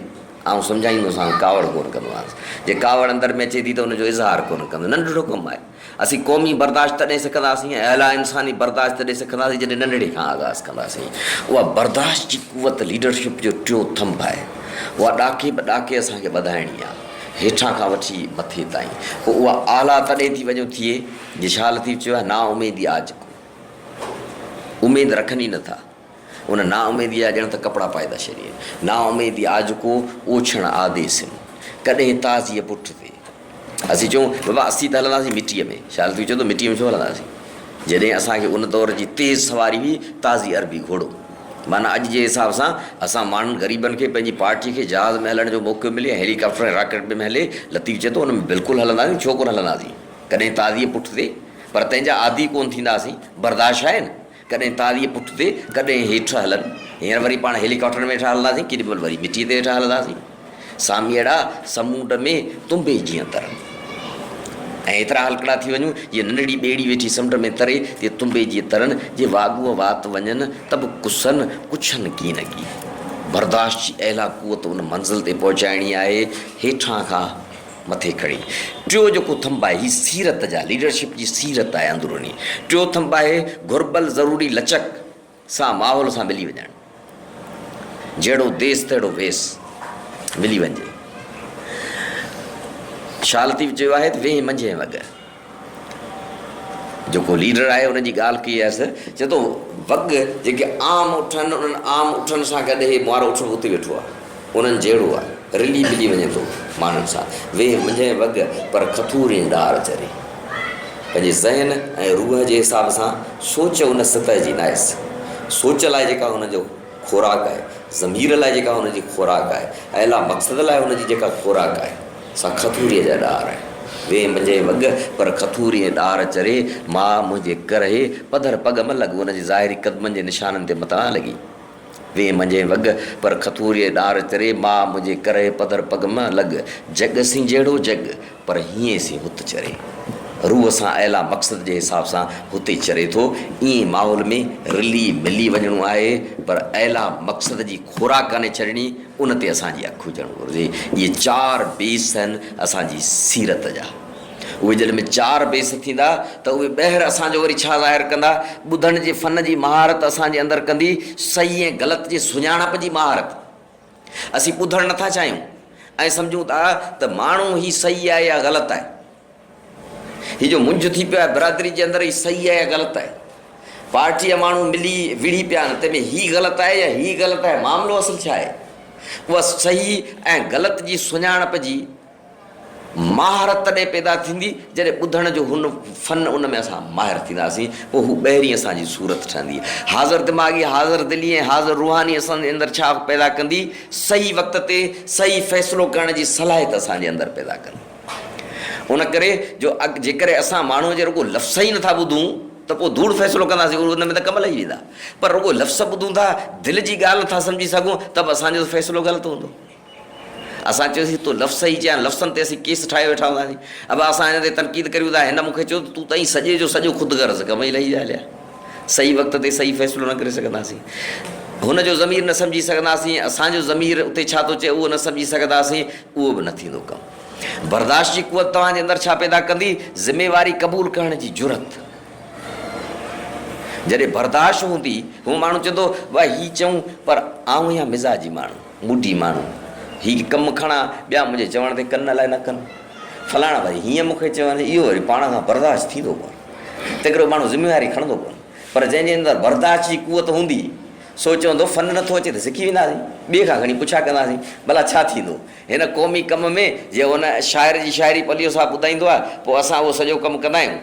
آئون سمجهائيندوسانس، ڪاوڙ ڪونه ڪندومانس. جي ڪاوڙ اندر ۾ اچي ٿي ته ان جو اظهار ڪونه ڪندو. ننڍڙو ڪم آهي. اسين قومي برداشت تڏهن سکنداسين ۽ اعليٰ انساني برداشت تڏهن سکنداسين جڏهن ننڍڙي کان آغاز ڪنداسين. اها برداشت جي قوت ليڊرشپ جو ٽيون ٿنڀ آهي. اها ڏاڪي به ڏاڪي اسان کي ٻڌائڻي آهي. هيٺان کان وٺي مٿي تائين. پوء اها اعليٰ تڏهن ٿي وڃو ٿئي. جشا لطيف چيو آهي، نااميدي آ جڪو اميد رکن ئي نٿا، ان نااميديء جا ڄڻ ته ڪپڙا پائي ٿا شرير. نااميدي آ جڪو اوڇڻ آ دي سن، ڪڏهن تازيء پٺ تي. اسين چئون، بابا اسين ته هلنداسين مٽيء ۾. شاهه لطيف چيو ته مٽيء ۾ ڇو هلنداسين، جڏهن اسان کي ان دور جي تيز سواري هئي تازي عربي گهوڙو. معنيٰ اڄ جي حساب سان اسان ماڻهن غريبن کي پنهنجي پارٽيء کي جهاز ۾ هلڻ جو موقعو ملي ۽ هيلي ڪاپٽر ۽ راڪٽ ۾ هلي. لطيف چئي ٿو، ان ۾ بلڪل هلنداسين، ڇو ڪونه هلنداسين. ڪڏهن تازيء پٺ تي، پر تنهن جا عادي ڪونه ٿينداسين، برداشت آهي نه، ڪڏهن تازيء پٺ تي، ڪڏهن هيٺ هلن، هينئر وري پاڻ هيلي ڪاپٽر ۾ هيٺان هلنداسين، ڪيڏي مهل وري مٽيء تي هيٺان هلنداسين. ساميئڙا سمونڊ ۾ تنبي جيان ترن ۽ ايترا هلڪڙا ٿي وڃون، جيئن ننڍڙي ٻيڙي ويٺي سمنڊ ۾ تري، تيئن تنبي جيئن ترن، جي واڳوء وات وڃن ته به ڪسن ڪڇن ڪين اڳي. برداشت جي اعليٰ قوت ان منزل تي پهچائڻي آهي، هيٺان کان. مٿي کڻي. ٽيون جيڪو ٿنڀ آهي هي سيرت جا ليڊرشپ جي سيرت آهي اندروني. ٽيون ٿنڀ آهي گهربل ضروري لچڪ سان ماحول سان ملي وڃڻ. جهڙو ديس تهڙو ويس ملي وڃجي. شال اديب چيو آهي ته ويهين منجهين وڳ. جيڪو ليڊر آهي ان جي ڳالهه ڪئي هيس. چئي ٿو وڳ جيڪي عام اٺن انهن عام اٺن سان گڏ هي مئارو اٺ به اتي ويٺو آهي. انهن جهڙو آهي. رلي ملي وڃي ٿو ماڻهن سان. ويهه منجهين وڳ پر کٿورين ڏار چري. پنهنجي ذهن ۽ روح جي حساب سان سوچ ان سطح جي ناهيس. سوچ لاء جيڪا هن جو خوراڪ آهي، ضمير لاء جيڪا هن جي خوراڪ آهي، اعليٰ مقصد لاء هن جي جيڪا خوراڪ آهي. سا کٿوريء جا ڏار آهن. ويهه منجهي وڳ پر کٿوري ۽ ڏار چري، ماء منهنجي ڪرهي پڌر پڳ م لڳ ان جي ظاهري قدمن جي نشانن تي متان لڳي. ويهه منجهي وڳ پر کٿوريء ڏار چري، ماء منهنجي ڪرهي پڌر پڳ م لڳ. جڳ سين جهڙو جڳ، پر هيئين سين هت چري. روح سان اعليٰ مقصد جي حساب سان هتي چري ٿو. ايئن ماحول ۾ رلي ملي وڃڻو آهي، پر اعليٰ مقصد جي خوراڪ ڪانهي ڇڏڻي. ان تي اسان جي اک هجڻ گهرجي. اهي چار بيس آهن اسان جي سيرت جا. اهي جڏهن به چار بيس ٿيندا ته اهي ٻهر اسان جو وري ڇا ظاهر ڪندا؟ ٻڌڻ جي فن جي مهارت اسان جي اندر ڪندي صحيح ۽ غلط جي سڃاڻپ جي مهارت. اسين ٻڌڻ نٿا چاهيون ۽ سمجهون ٿا ته ماڻهو هي صحيح آهي يا غلط آهي. هي جو منجهه ٿي پيو آهي برادري جي اندر هي صحيح آهي يا غلط آهي پارٽي جا ماڻهو ملي وڙهي پيا آهن تنهن ۾ هي غلط آهي يا هي غلط آهي معاملو اصل ڇا آهي اها صحيح ۽ غلط جي سڃاڻپ جي مهارت تڏهن پيدا ٿيندي جڏهن ٻڌڻ جو هن فن ان ۾ اسان ماهر ٿينداسين پوء هو ٻهرين اسان جي صورت ٺهندي حاضر دماغي حاضر دلي ۽ حاضر روحاني اسان جي اندر ڇا پيدا ڪندي صحيح وقت تي صحيح فيصلو ڪرڻ جي صلاحيت اسان جي اندر پيدا ڪندي ان ڪري جو جيڪڏهن اسان ماڻهوء جي رڳو لفظ ئي نٿا ٻڌون ته پوء ڌوڙ فيصلو ڪنداسين، ان ۾ ته ڪم لهي ويندا. پر رڳو لفظ ٻڌون ٿا، دل جي ڳالهه نٿا سمجهي سگهون ته به اسان جو فيصلو غلط هوندو. اسان چيوسين تون لفظ صحيح چئي ها، لفظن تي اسين ڪيس ٺاهي ويٺا هونداسين. ابا اسان هن تي تنقيد ڪريون ٿا، هن مون کي چيو ته تون ته ائين سڄي جو سڄو خود غرض ڪم ئي لهي ويا هليا. صحيح وقت تي صحيح فيصلو نه ڪري سگهنداسين. هن جو ضمير نه سمجهي سگهنداسين، اسان جو ضمير اتي ڇا ٿو چئي اهو نه سمجهي سگهنداسين. اهو به نه ٿيندو ڪم. برداشت جي قوت توهان جي اندر ڇا پيدا ڪندي؟ ذميواري قبول ڪرڻ جي جرئت. جڏهن برداشت هوندي، هو ماڻهو چوندو، واهه هي چئون پر آئون اها مزاجي ماڻهو، موڊي ماڻهو، هي ڪم کڻان، ٻيا منهنجي چوڻ تي ڪن الاء نه ڪن. فلاڻا وري هيئن مون کي چون، اهو وري پاڻ کان برداشت ٿيندو ڪونه. تنهنڪري اهو ماڻهو ذميواري کڻندو ڪونه. پر جنهن جي اندر برداشت جي قوت هوندي، سو چوندو فن نه ٿو اچي ته سکي وينداسين، ٻئي کان کڻي پڇا ڪنداسين، ڀلا ڇا ٿيندو هن قومي ڪم ۾، جي ان شاعر جي شاعري پليو صاحب ٻڌائيندو آهي، پوء اسان اهو سڄو ڪم ڪندا آهيون،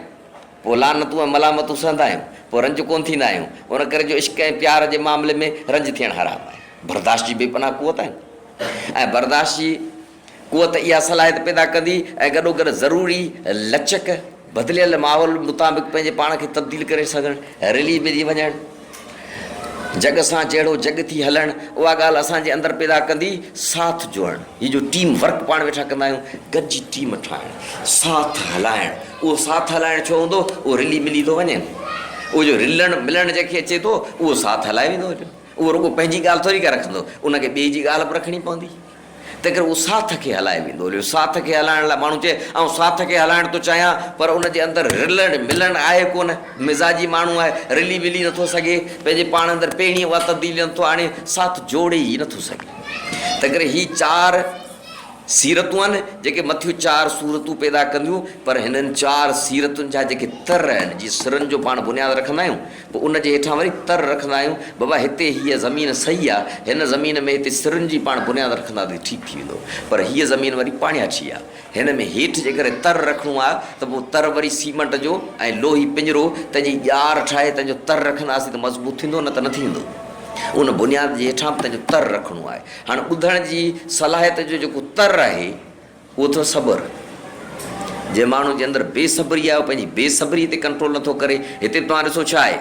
پوء لعنتون ۽ ملامتون سهندا آهيون، پوء رنج ڪونه ٿيندا آهيون، ان ڪري جو عشق ۽ پيار جي معاملي ۾ رنج ٿيڻ حرام آهي. برداشت جي بي پناهه قوت آهن ۽ برداشت جي. قوت اها صلاحيت پيدا ڪندي ۽ گڏوگڏ ضروري لچڪ، بدليل ماحول مطابق پنهنجي پاڻ کي تبديل ڪري سگهڻ، رلي ملي وڃڻ، جڳ سان جهڙو جڳ ٿي هلڻ، اها ڳالهه اسان جي اندر پيدا ڪندي ساٿ جوڙڻ، هي جو ٽيم ورڪ پاڻ ويٺا ڪندا آهيون، گڏجي ٽيم ٺاهڻ، ساٿ هلائڻ، اهو ساٿ هلائڻ ڇو هوندو؟ اهو رلي ملي ٿو وڃي نه، اهو جو رلڻ ملڻ جنهن کي اچي ٿو، اهو ساٿ هلائي ويندو هليو، اهو رڳو پنهنجي ڳالهه ٿوري ڪا رکندو، ان کي ٻئي جي ڳالهه به رکڻي پوندي. تنهنڪري اهو ساٿ کي هلائي ويندو هليو. ساٿ کي هلائڻ لاء ماڻهو چئي، آئون ساٿ کي هلائڻ ٿو چاهيان، پر ان جي اندر رلڻ ملڻ آهي ڪونه. مزاجي ماڻهو آهي، رلي ملي نٿو سگهي، پنهنجي پاڻ اندر پهرين اها تبديلي نٿو آڻي، ساٿ جوڙي ئي نٿو سگهي. تنهنڪري هي چار سيرتون آهن، جيڪي مٿيون چار صورتون پيدا ڪنديون، پر هنن چار سيرتن جا جيڪي تر آهن، جي سرن جو پاڻ بنياد رکندا آهيون، پوء ان جي هيٺان وري تر رکندا آهيون، بابا هتي هيء زمين صحيح آ، هن زمين ۾ هتي سرن جي پاڻ بنياد رکندا ته ٺيڪ ٿي ويندو، پر هيء زمين وري پاڻياٺي آ، هن ۾ هيٺ جيڪڏهن تر رکڻو آ ته پوء تر وري سيمنٽ جو ۽ لوهي پڃرو تنهن جي ڄار ٺاهي تنهن جو تر رکنداسين ته مضبوط ٿيندو نه ته نه ٿيندو. ان بنياد جي هيٺان به تنهن جو تر رکڻو آهي. هاڻ ٻڌڻ جي صلاحيت جو جيڪو تر آهي، اهو اٿو صبر، جنهن ماڻهو جي اندر بي صبري آهي اهو پنهنجي بي صبري تي ڪنٽرول نٿو ڪري، هتي به توهان ڏسو ڇا آهي،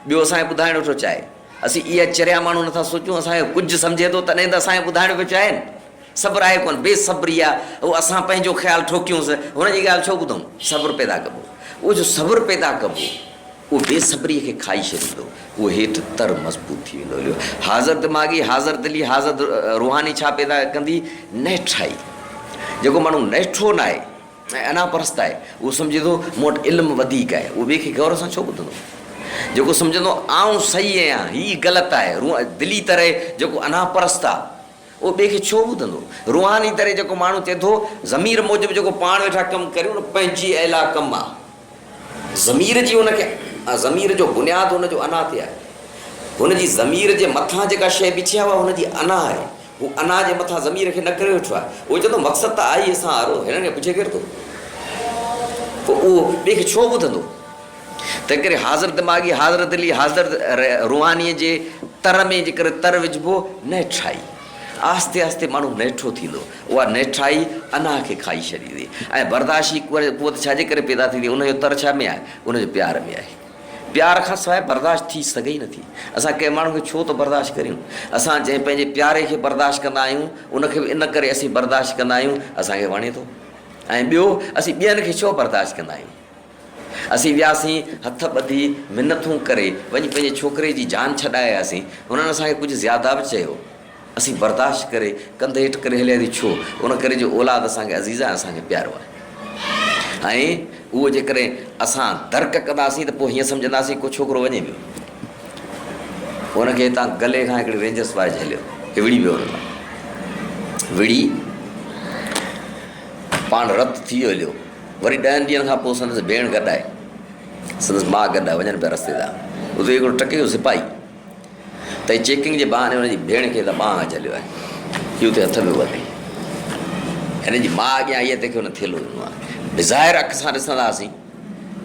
ٻيو اسان کي ٻڌائڻ ويٺو چاهي، اسين اها چريا ماڻهو نٿا سوچون، اسان کي ڪجهه سمجهي ٿو تڏهن ته اسان کي ٻڌائڻ پيو چاهي نه، صبر آهي ڪونه، بي صبري آهي، اهو اسان پنهنجو خيال ٺوڪيونس، هن جي ڳالهه ڇو ٻڌون، صبر پيدا ڪبو، اهو جو صبر پيدا ڪبو، اهو بي صبريء کي کائي ڇڏيندو. اهو هيٺ تر مضبوط ٿي ويندو. اليو، حاضر دماغي، حاضر دلي، حاضر روحاني ڇا پيدا ڪندي؟ نهٺائي. جيڪو ماڻهو نهٺو ناهي ۽ انا پرست آهي، اهو سمجهي ٿو، مون وٽ علم وڌيڪ آهي. اهو ٻئي کي غور سان ڇو ٻڌندو؟ جيڪو سمجهندو، آئون صحيح آهيان، هيء غلط آهي. روح دلي تر، جيڪو انا پرست آهي. اهو ٻئي کي ڇو ٻڌندو؟ روحاني طرح جيڪو ماڻهو چئي ٿو، ضمير موجب جيڪو پاڻ ويٺا ڪم ڪريون نه پنهنجي اعليٰ ڪم آ. ضمير جي ان کي ضمير جو بنياد ان جو انا تي آهي. هن جي ضمير جي مٿان جيڪا شيء بيٺي آهي اها هن جي انا آهي. هو انا جي مٿان ضمير کي نڪري ويٺو آهي. اهو چئي ٿو مقصد ته آء ئي اسان وارو هنن کي پڇي ڪير ٿو؟ پوء اهو ٻئي کي ڇو ٻڌندو؟ تنهنڪري حاضر دماغي، حاضر دلي، حاضر روحانيء جي تر ۾ جيڪڏهن تر وجهبو، نهٺائي آهستي آهستي ماڻهو نهٺو ٿيندو. اها نهٺائي اناهه کي کائي ڇڏيندي ۽ برداشي قوت ڇا جي ڪري پيدا ٿيندي؟ ان جو تر ڇا ۾ آهي؟ ان جو پيار ۾ آهي. پيار کان سواء برداشت ٿي سگهي ئي نٿي. اسان ڪنهن ماڻهو کي ڇو ٿو برداشت ڪريون؟ اسان جنهن پنهنجي پياري کي برداشت ڪندا آهيون، ان کي به ان ڪري اسين برداشت ڪندا آهيون، اسان کي وڻي ٿو ۽ ٻيو اسين ٻين کي ڇو برداشت ڪندا آهيون؟ اسين وياسين، هٿ ٻڌي، منٿون ڪري، وڃي پنهنجي ڇوڪري جي جان ڇڏائي آياسين. هنن اسان کي ڪجهه زياده به چيو. اسين برداشت ڪري، ڪنڌ هيٺ ڪري هلياسين، ڇو؟ ان ڪري جو اولاد اسان کي عزيز آهي ۽ اسان کي پيارو آهي. ۽ اهو جيڪڏهن اسان درڪ ڪنداسين ته پوء هيئن سمجهنداسين ڪو ڇوڪرو وڃي ويو. ان کي هتان گلي کان هڪڙي رينجرس واري جهليو ۽ وڙهي ويو ان تان. وڙهي پاڻ رت ٿي ويو هليو. وري ڏهن ڏينهن کان پوء سندس ڀيڻ گڏ آئي، سندس ماء گڏ آئي، وڃن پيا رستي تان، اتي هڪڙو ٽڪي جو سپاهي تئي چيڪنگ جي بهاني هن جي ڀيڻ کي اتان ٻانهن کان جهليو آهي، هي اتي هٿ ۾ ورتي، هن جي ماء اڳيان آئي آهي، تنهن کي هن ٿيلهو ڏنو آهي، بظاهر اک سان ڏسنداسين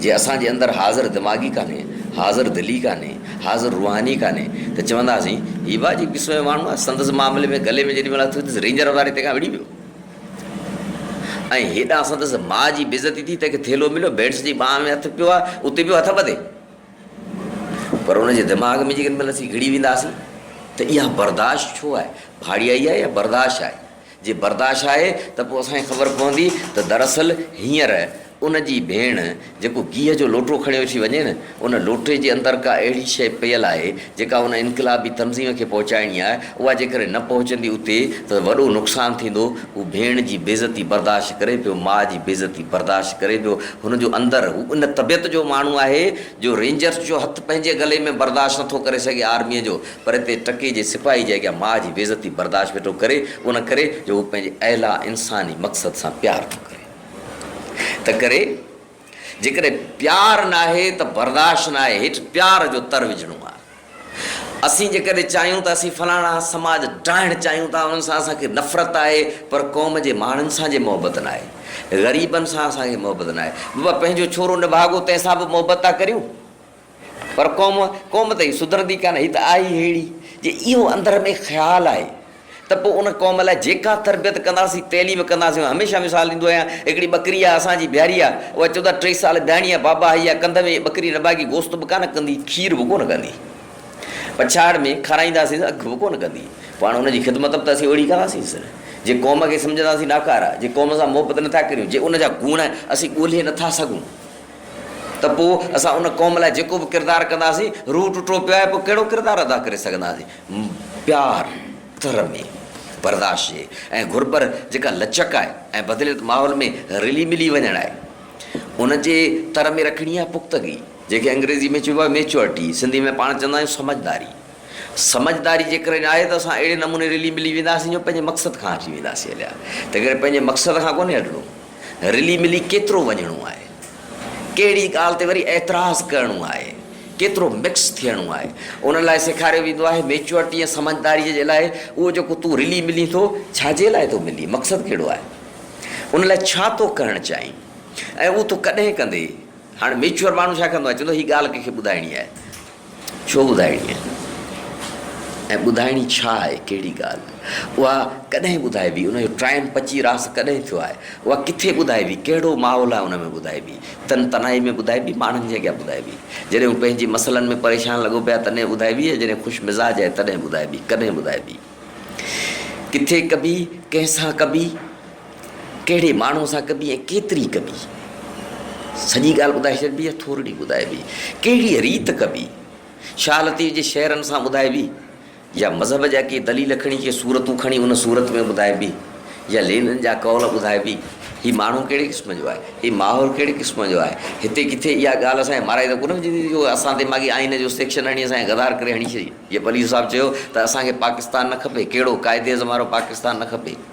جي اسان جي اندر حاضر دماغي ڪانهي، حاضر دلي ڪانهي، حاضر روحاني ڪانهي ته چونداسين هي به عجيب قسم جو ماڻهو آهي، سندس معاملي ۾ گلي ۾ جيڏي مهل هٿ وڌيس رينجر واري تنهن کان وڙهي ويو. ۽ هيڏانهن سندس ماء جي بيعزتي ٿي، تنهن کي ٿيلهو مليو، ڀيڻس جي ٻانهن ۾ هٿ پيو آهي، اتي پيو هٿ ٻڌي. پر ان جي دماغ ۾ جيڪڏهن اسين گهڙي وينداسين ته اها برداشت ڇو آهي، ڀاڙيائي آهي يا برداشت آهي؟ جي برداشت آهي ته پوء اسان کي خبر پوندي ته دراصل هينئر ان جي ڀيڻ جيڪو گيهه جو لوٽو کڻيو ٿي وڃي نه، ان لوٽي جي اندر ڪا اهڙي شيء پيل آهي، جيڪا ان انقلابي تنظيم کي پهچائڻي آهي، اها جيڪڏهن نه پهچندي اتي ته وڏو نقصان ٿيندو. هو ڀيڻ جي بيعزتي برداشت ڪري پيو، ماء جي بيعزتي برداشت ڪري پيو. هن جو اندر، هو ان طبيعت جو ماڻهو آهي، جو رينجرز جو هٿ پنهنجي گلي ۾ برداشت نه ٿو ڪري سگهي آرميء جو، پر اتي ٽڪي جي سپاهي جي اڳيان ماء جي بيعزتي برداشت ويٺو ڪري، ان ڪري جو هو پنهنجي اعليٰ انساني مقصد سان پيار ٿو ڪري. تنهنڪري جيڪڏهن پيار ناهي ته برداشت ناهي هيٺ پيار جو تر وجهڻو آهي. اسين جيڪڏهن چاهيون ته اسين فلاڻا سماج ڊاهڻ چاهيون ٿا انهن سان اسان کي نفرت آهي پر قوم جي ماڻهن سان جي محبت ناهي غريبن سان اسان کي محبت ناهي بابا پنهنجو ڇورو نڀاڳو تنهن سان به محبت ٿا ڪريون. پر قوم قوم ته هي سڌرندي ڪانه هي ته آهي ئي ههڙي جي اهو اندر ۾ خيال آهي ته پوء ان قوم لاء جيڪا تربيت ڪنداسين تعليم ڪنداسين هميشه مثال ڏيندو آهيان هڪڙي ٻڪري آهي اسان جي بيهاري آهي اها چودا ٽي سال بيهاڻي آهي بابا هي آهي ڪنڌ ۾ ٻڪري نه ڀاڳي گوشت به ڪانه ڪندي کير به ڪونه ڪندي پڇاڙ ۾ کارائينداسين اک به ڪونه ڪندي پوء هاڻ ان جي خدمت به ته اسين اهڙي ڪنداسينس نه جي قوم کي سمجهنداسين ناڪاره جي قوم سان محبت نٿا ڪريون جي ان جا گوڻ اسين ڳولهي نٿا سگهون ته پوء اسان ان قوم لاء جيڪو به ڪردار ڪنداسين، روح ٽٽو پيو آهي، پوء ڪهڙو ڪردار ادا ڪري سگهنداسين؟ پيار، ترمي، برداشت جي ۽ گهربر جيڪا لچڪ آهي ۽ بدليل ماحول ۾ رلي ملي وڃڻ آهي، ان جي تر ۾ رکڻي آهي پختگي، جنهن کي انگريزي ۾ چئبو آهي Maturity، سنڌي ۾ پاڻ چوندا آهيون سمجهداري. سمجهداري جيڪڏهن آهي ته اسان اهڙي نموني رلي ملي وينداسين جو پنهنجي مقصد کان هٽي وينداسين هليا، تنهنڪري پنهنجي مقصد کان ڪونهي هٽڻو. رلي ملي ڪيترو وڃڻو آهي، ڪهڙي ڳالهه تي وري اعتراض ڪرڻو آهي، ڪيترو مڪس ٿيڻو آهي، انهن لاء سيکاريو ويندو آهي. ميچوئرٽي ۽ سمجهداريء جي لاء اهو جيڪو تون رلي ملين ٿو، ڇا جي لاء ٿو ملين، مقصد ڪهڙو آهي، ان لاء ڇا ٿو ڪرڻ چاهين ۽ اهو تون ڪڏهن ڪندين. هاڻ ميچوئر ماڻهو ڇا ڪندو آهي، چوندو آهي هي ڳالهه ڪنهن کي ٻڌائڻي آهي. ڇو ٻڌائڻي آهي ۽ ٻڌائڻي ڇا آهي، ڪهڙي ڳالهه، اها ڪڏهن ٻڌائبي، ان جو ٽائيم پچي راس ڪڏهن ٿيو آهي، اها ڪٿي ٻڌائبي، ڪهڙو ماحول آهي ان ۾ ٻڌائبي، تن تنهائي ۾ ٻڌائبي، ماڻهن جي اڳيان ٻڌائبي، جڏهن هو پنهنجي مسئلن ۾ پريشان لڳو پئي آهي تڏهن ٻڌائبي يا جڏهن خوش مزاج آهي تڏهن ٻڌائبي، ڪڏهن ٻڌائبي، ڪٿي ڪبي، ڪنهن سان ڪبي، ڪهڙي ماڻهوء سان ڪبي ۽ ڪيتري ڪبي؟ سڄي ڳالهه ٻڌائي ڇڏبي يا ٿورڙي ٻڌائبي؟ ڪهڙيء ريت ڪبي؟ شاهه لطيف جي شعرن سان ٻڌائبي يا مذهب جا ڪي دليل کڻي ڪي صورتون کڻي ان صورت ۾ ٻڌائبي يا لينن جا قول ٻڌائبي؟ هي ماڻهو ڪهڙي قسم جو آهي؟ هي ماحول ڪهڙي قسم جو آهي؟ هتي ڪٿي اها ڳالهه اسان کي مارائي ته ڪونه وجهندي جو اسان تي ماڳهين آئين جو سيڪشن هڻي اسان کي غدار ڪري هڻي ڇڏي؟ جي پليجو صاحب چيو ته اسان کي پاڪستان نه کپي، ڪهڙو قائد اعظم وارو پاڪستان نه کپي؟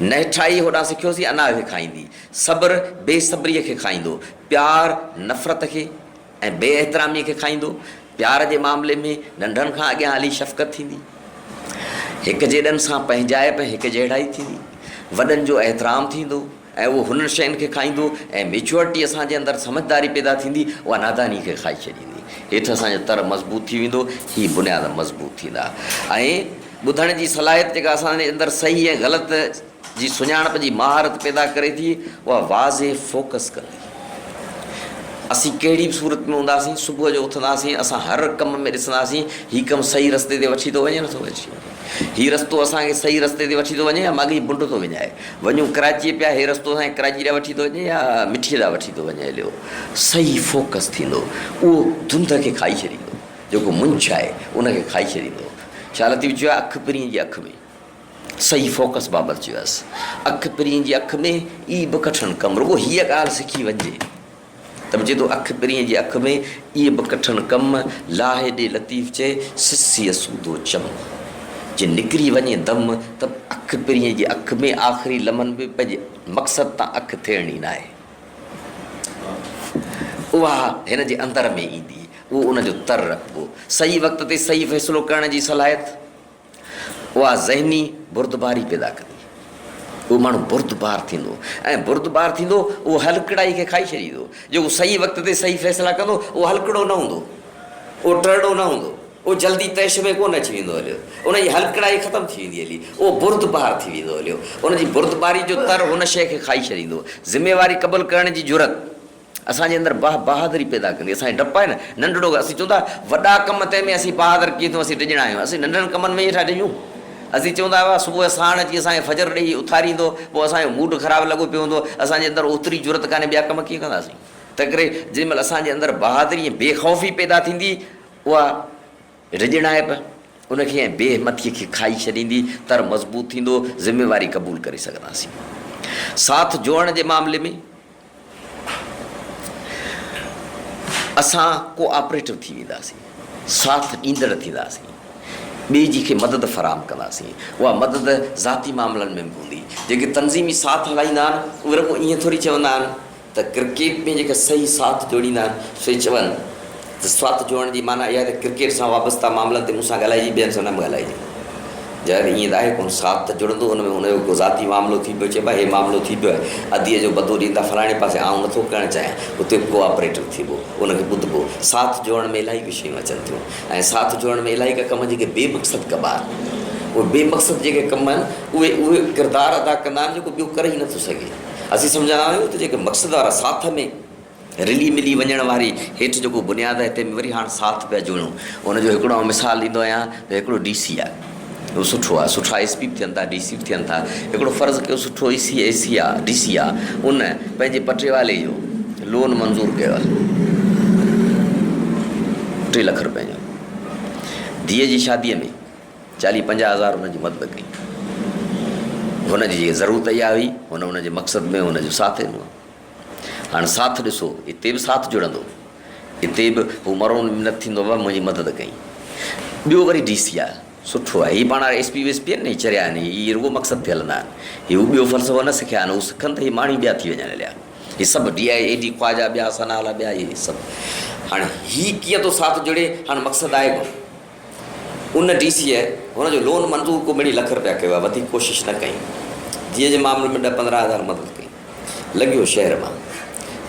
نهٺائي هوڏانهن سکيوسين انا کي کائيندي، صبر بي صبريء کي کائيندو، پيار نفرت کي ۽ بي احتراميء کي کائيندو، پيار جي معاملي ۾ ننڍڙن کان اڳيان هلي شفقت ٿيندي، هڪجيڏن سان پنهنجائپ ۽ هڪجهڙائي ٿيندي، وڏن جو احترام ٿيندو، ۽ اهو هنن شين کي کائيندو ۽ ميچوئرٽي اسان جي اندر سمجهداري پيدا ٿيندي اها ناداني کي کائي ڇڏيندي هيٺ اسان جو تر مضبوط ٿي ويندو هي بنياد مضبوط ٿيندا ۽ ٻڌڻ جي صلاحيت جيڪا اسان جي اندر صحيح ۽ غلط جي سڃاڻپ جي مهارت پيدا ڪري ٿي اها واضح فوڪس ڪندي اسين ڪهڙي به صورت ۾ هونداسين صبح جو اٿنداسين اسان هر ڪم ۾ ڏسنداسين هي ڪم صحيح رستي تي وٺي ٿو وڃي نه ٿو وٺي وڃي. هي رستو اسان کي صحيح رستي تي وٺي ٿو وڃي يا ماڳهين بنڊ ٿو وڃائي. وڃون ڪراچيء پيا هي رستو اسان کي ڪراچي ڏانهن وٺي ٿو وڃي يا مٺيء ڏانهن وٺي ٿو وڃي عليو صحيح فوڪس ٿيندو اهو ڌنڌ کي کائي ڇڏيندو جيڪو منجهه آهي ان کي کائي ڇڏيندو شاهه لطيف چيو آهي اک پرينء جي اک ۾. صحيح فوڪس بابت چيو آهيس اک پرينء جي اک ۾ ئي به ڪٺڻ ڪم رڳو هيء ڳالهه سکي وڃجي. ته به چئي ٿو اک پرينء جي اک ۾، اهي به ڪٺن ڪم، لاهي ڏي لطيف چئي، سسيء سودو چم. جي نڪري وڃي دم، ته به اک پرينء جي اک ۾، آخري لمحن ۾ پنهنجي مقصد تان اک ڦيرڻي ناهي. اها هن جي اندر ۾ ايندي، اهو ان جو تر رکبو. صحيح وقت تي صحيح فيصلو ڪرڻ جي صلاحيت. اها ذهني بردباري پيدا ڪندي. اهو ماڻهو بردبار ٿيندو ۽ بردبار ٿيندو اهو هلڪڙائي کي کائي ڇڏيندو. جيڪو صحيح وقت تي صحيح فيصلا ڪندو اهو هلڪڙو نه هوندو. اهو ٽرڙو نه هوندو. اهو جلدي طيش ۾ ڪونه اچي ويندو هليو. ان جي هلڪڙائي ختم ٿي ويندي هلي. اهو بردبار ٿي ويندو هليو. ان جي بردباري جو تر هن شيء کي کائي ڇڏيندو. ذميواري قبول ڪرڻ جي جرئت. اسان جي اندر باه بهادري پيدا ڪندي اسان کي ڊپ آهي نه ننڍڙو ڪم اسين چون ٿا وڏا ڪم تنهن ۾ اسين بهادر ڪيئن ٿيون اسين ڊڄڻا آهيون اسين ننڍڙن ڪمن ۾ ئي ويٺا ڊڄون اسين چون ٿا واه صبح ساڻ اچي اسان کي فجر ڏيئي اٿاريندو پوء اسان جو موڊ خراب لڳو پيو هوندو اسان جي اندر اوتري جرئت ڪانهي ٻيا ڪم ڪيئن ڪنداسين تنهن ڪري جنهن مهل اسان جي اندر بهادري ۽ بي خوفي پيدا ٿيندي اها ڊڄڻائپ ان کي ۽ بي همٿي کي کائي ڇڏيندي تر مضبوط ٿيندو ذميواري قبول ڪري سگهنداسين ساٿ جوڙڻ جي معاملي ۾ اسان ڪو آپريٽو ٿي وينداسين، ساٿ ڏيندڙ ٿينداسين، ٻئي جي کي مدد فراهم ڪنداسين، اها مدد ذاتي معاملن ۾ به هوندي، جيڪي تنظيمي ساٿ هلائيندا آهن اهي رڳو ائين ٿوري چوندا آهن ته ڪرڪيٽ ۾ جيڪي صحيح ساٿ جوڙيندا آهن سوئي چون جذبات جوڙڻ جي معنيٰ اها ته ڪرڪيٽ سان وابسته معاملن تي مون سان ڳالهائجي ٻين سان نه به ڳالهائجي. ظاهر ائين ته آهي ڪونه ساٿ ته جڙندو ان ۾ ان جو ڪو ذاتي معاملو ٿي پيو چئبو آهي هي معاملو ٿي پيو آهي اديء جو بدو ڏيندا فلاڻي پاسي آئون نٿو ڪرڻ چاهيان اتي به ڪو آپريٽر ٿيبو ان کي ٻڌبو ساٿ جوڙڻ ۾ الائي ڪي شيون اچن ٿيون ۽ ساٿ جوڙڻ ۾ الائي ڪا ڪم جيڪي بي مقصد ڪبا آهن اهي بي مقصد جيڪي ڪم آهن اهي اهو ڪردار ادا ڪندا آهن جيڪو ٻيو ڪري ئي نٿو سگهي اسين سمجهندا آهيون ته جيڪي مقصد وارا ساٿ ۾ رلي ملي وڃڻ واري هيٺ جيڪو بنياد آهي تنهن ۾ وري هاڻ ساٿ پيا جوڙيون. ان جو هڪڙو آئون مثال ڏيندو آهيان ته هڪڙو ڊي سي آهي اهو سٺو آهي سٺا ايس پي به ٿين ٿا ڊي سي به ٿين ٿا هڪڙو فرض ڪيو سٺو اي سي اي سي آ ڊي سي آ ان پنهنجي پٽيوالي جو لون منظور ڪيو آهي ٽي لک روپين جو ڌيء جي شاديء ۾ چاليهه پنجاهه هزار هن جي مدد ڪئي هن جي ضرورت اها هئي هن هن جي مقصد ۾ هن جو ساٿ ڏنو هاڻ ساٿ ڏسو، اتي به ساٿ جڙندو. اتي به هو مرو منت ٿيندو بابا منهنجي مدد ڪئين. ٻيو وري ڊي سي آء سٺو آهي. هي پاڻ هاڻ ايس پي ويس پي آهن نه هي چريا آهن هي هي رڳو مقصد تي هلندا آهن. هي هو ٻيو فلسفو نه سکيا آهن هو سکن ته هي ماڻهي ٻيا ٿي وڃن هليا. هي سڀ D I E D Khawaja ٻيا سنهالا ٻيا هي سڀ. هاڻ هي ڪيئن ٿو ساٿ جڙي هاڻ مقصد آهي ڪو. ان ڊي سيء هن جو لون منظور ڪو ٻنهي لک رپيا ڪيو آهي، وڌيڪ ڪوشش نه ڪئي. جيء جي معاملي ۾ ڏهه پندرهن هزار مدد ڪئي. لنگهيو شهر مان.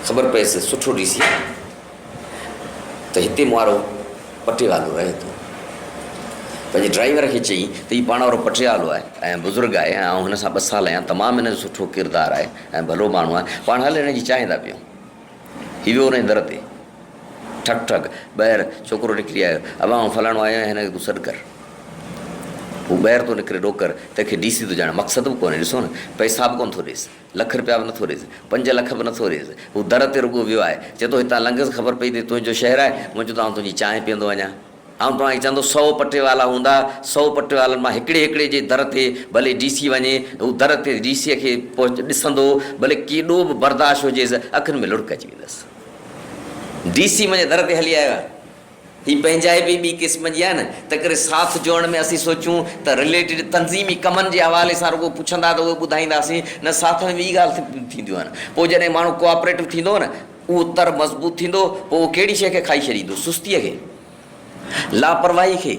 خبر پيس سٺو ڊي سي ته هتي مئارو پٽيوالو رهي ٿو. پنهنجي ڊرائيور کي چئي ته هي پاڻ وارو پٽيوالو آهي ۽ بزرگ آهي ۽ آئون هن سان ٻه سال آهيان، تمام هن جو سٺو ڪردار آهي ۽ ڀلو ماڻهو آهي، پاڻ هل هن جي چانهه ٿا پيئون. هي ويو انهيء در تي. ٺڪ ٺڪ! ٻهر ڇوڪرو نڪري آيو. ابا آئون فلاڻو آيو آهيان، هن کي تون سڏ ڪر. هو ٻهر ٿو نڪري، ڏوڪر، تنهن کي ڊي سي ٿو ڄاڻي. مقصد به ڪونهي، ڏسو نه! پئسا به ڪونه ٿو ڏيس. لک رپيا به نه ٿو ڏيس. پنج لک به نه ٿو ڏيس. هو در تي رڳو ويو آهي. چئي ٿو، هتان لنگهس خبر پئي ته هي تنهنجو شهر آهي. هونئن چون ته آئون تنهنجي چانهه پيئندو وڃان. آئون توهان کي چوندو سئو پٽيوالا هوندا، سئو پٽيوالن مان هڪڙي هڪڙي جي در تي ڀلي ڊي سي وڃي، هو در تي ڊي سيء کي پهچ ڏسندو، ڀلي ڪيڏو به برداشت هجيس، اکين ۾ لڙڪ اچي ويندس. ڊي سي منهنجي در تي هلي آيو آهي. هي پنهنجائپ ئي ٻي قسم جي آهي نه، تنهنڪري ساٿ جوڙڻ ۾ اسين سوچيون ته رليٽيڊ تنظيمي ڪمن جي حوالي سان رڳو پڇندا ته اهي ٻڌائينداسين، نه ساٿ ۾ ٻي ڳالهه ٿينديون آهن. پوء جڏهن ماڻهو ڪوآپريٽو ٿيندو نه، اهو تر مضبوط ٿيندو، پوء اهو ڪهڙي شيء کي کائي ڇڏيندو؟ سستيء کي، لاپرواهي کي،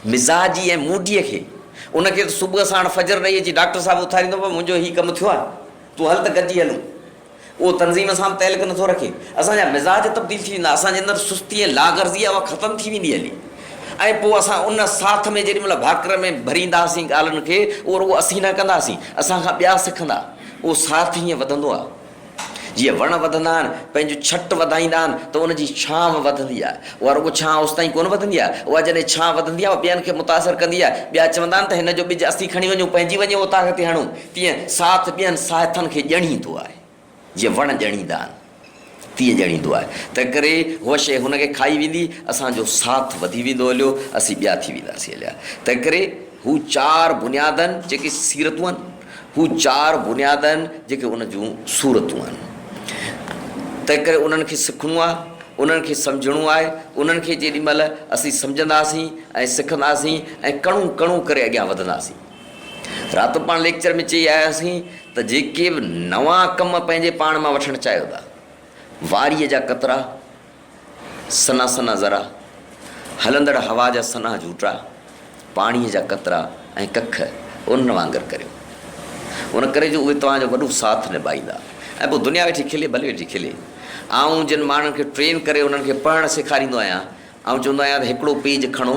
مزاجي ۽ موڊيء کي. ان کي ته صبح ساڻ فجر ڏئي اچي ڊاڪٽر صاحب اٿاريندو، پر منهنجو هي ڪم ٿيو آهي، تون هل ته گڏجي هلون. اهو تنظيم سان به تعلق نٿو رکي. اسان جا مزاج تبديل ٿي ويندا، اسان جي اندر سستي ۽ لاغرضي آهي، اها ختم ٿي ويندي هلي ۽ پوء اسان ان ساٿ ۾ جيڏي مهل ڀاڪر ۾ ڀرينداسين ڳالهن کي، اهو رڳو اسين نه ڪنداسين، اسان کان ٻيا سکندا. اهو ساٿ هيئن وڌندو آهي. جيئن وڻ وڌندا آهن، پنهنجون ڇٽ وڌائيندا آهن ته ان جي ڇانو وڌندي آهي. اها رڳو ڇانو اوستائين ڪونه وڌندي آهي. اها جڏهن ڇانو وڌندي آهي، اها ٻين کي متاثر ڪندي آهي. ٻيا چوندا آهن ته هن جو ٻج اسين کڻي وڃون، پنهنجي وڃي اوطاق تي هڻون. تيئن ساٿ ٻين ساهٿن کي ڄڻيندو آهي. جيئن وڻ ڄڻيندا آهن، تيئن ڄڻيندو آهي. تنهنڪري هوء شيء هن کي کائي ويندي. اسان جو ساٿ وڌي ويندو هليو، اسين ٻيا ٿي وينداسين هليا. تنهنڪري هو چار بنيادن، جيڪي سيرتون آهن، هو چار بنياد آهن جيڪي ان جون صورتون آهن. تنهنڪري انهن کي سکڻو آهي، انهن کي سمجهڻو آهي، انهن کي جيڏي مهل اسين سمجهنداسين ۽ سکنداسين ۽ ڪڻو ڪڻو ڪري اڳيان وڌنداسين. راتو پاڻ ليڪچر ۾ چئي آياسين ته جيڪي به نوان ڪم پنهنجي پاڻ مان وٺڻ چاهيو ٿا، واريء جا قطرا، سنها سنها ذرا، هلندڙ هوا جا سنها جهوٽا، پاڻيء جا قطرا ۽ ڪک انهن وانگر ڪريو. ان ڪري جو اهي توهان جو وڏو ساٿ نڀائيندا ۽ پوء دنيا ويٺي کلي ڀلي ويٺي کلي. آئون جن ماڻهن کي ٽرين ڪري انهن کي پڙهڻ سيکاريندو آهيان، آئون چوندو آهيان ته هڪڙو پيج کڻو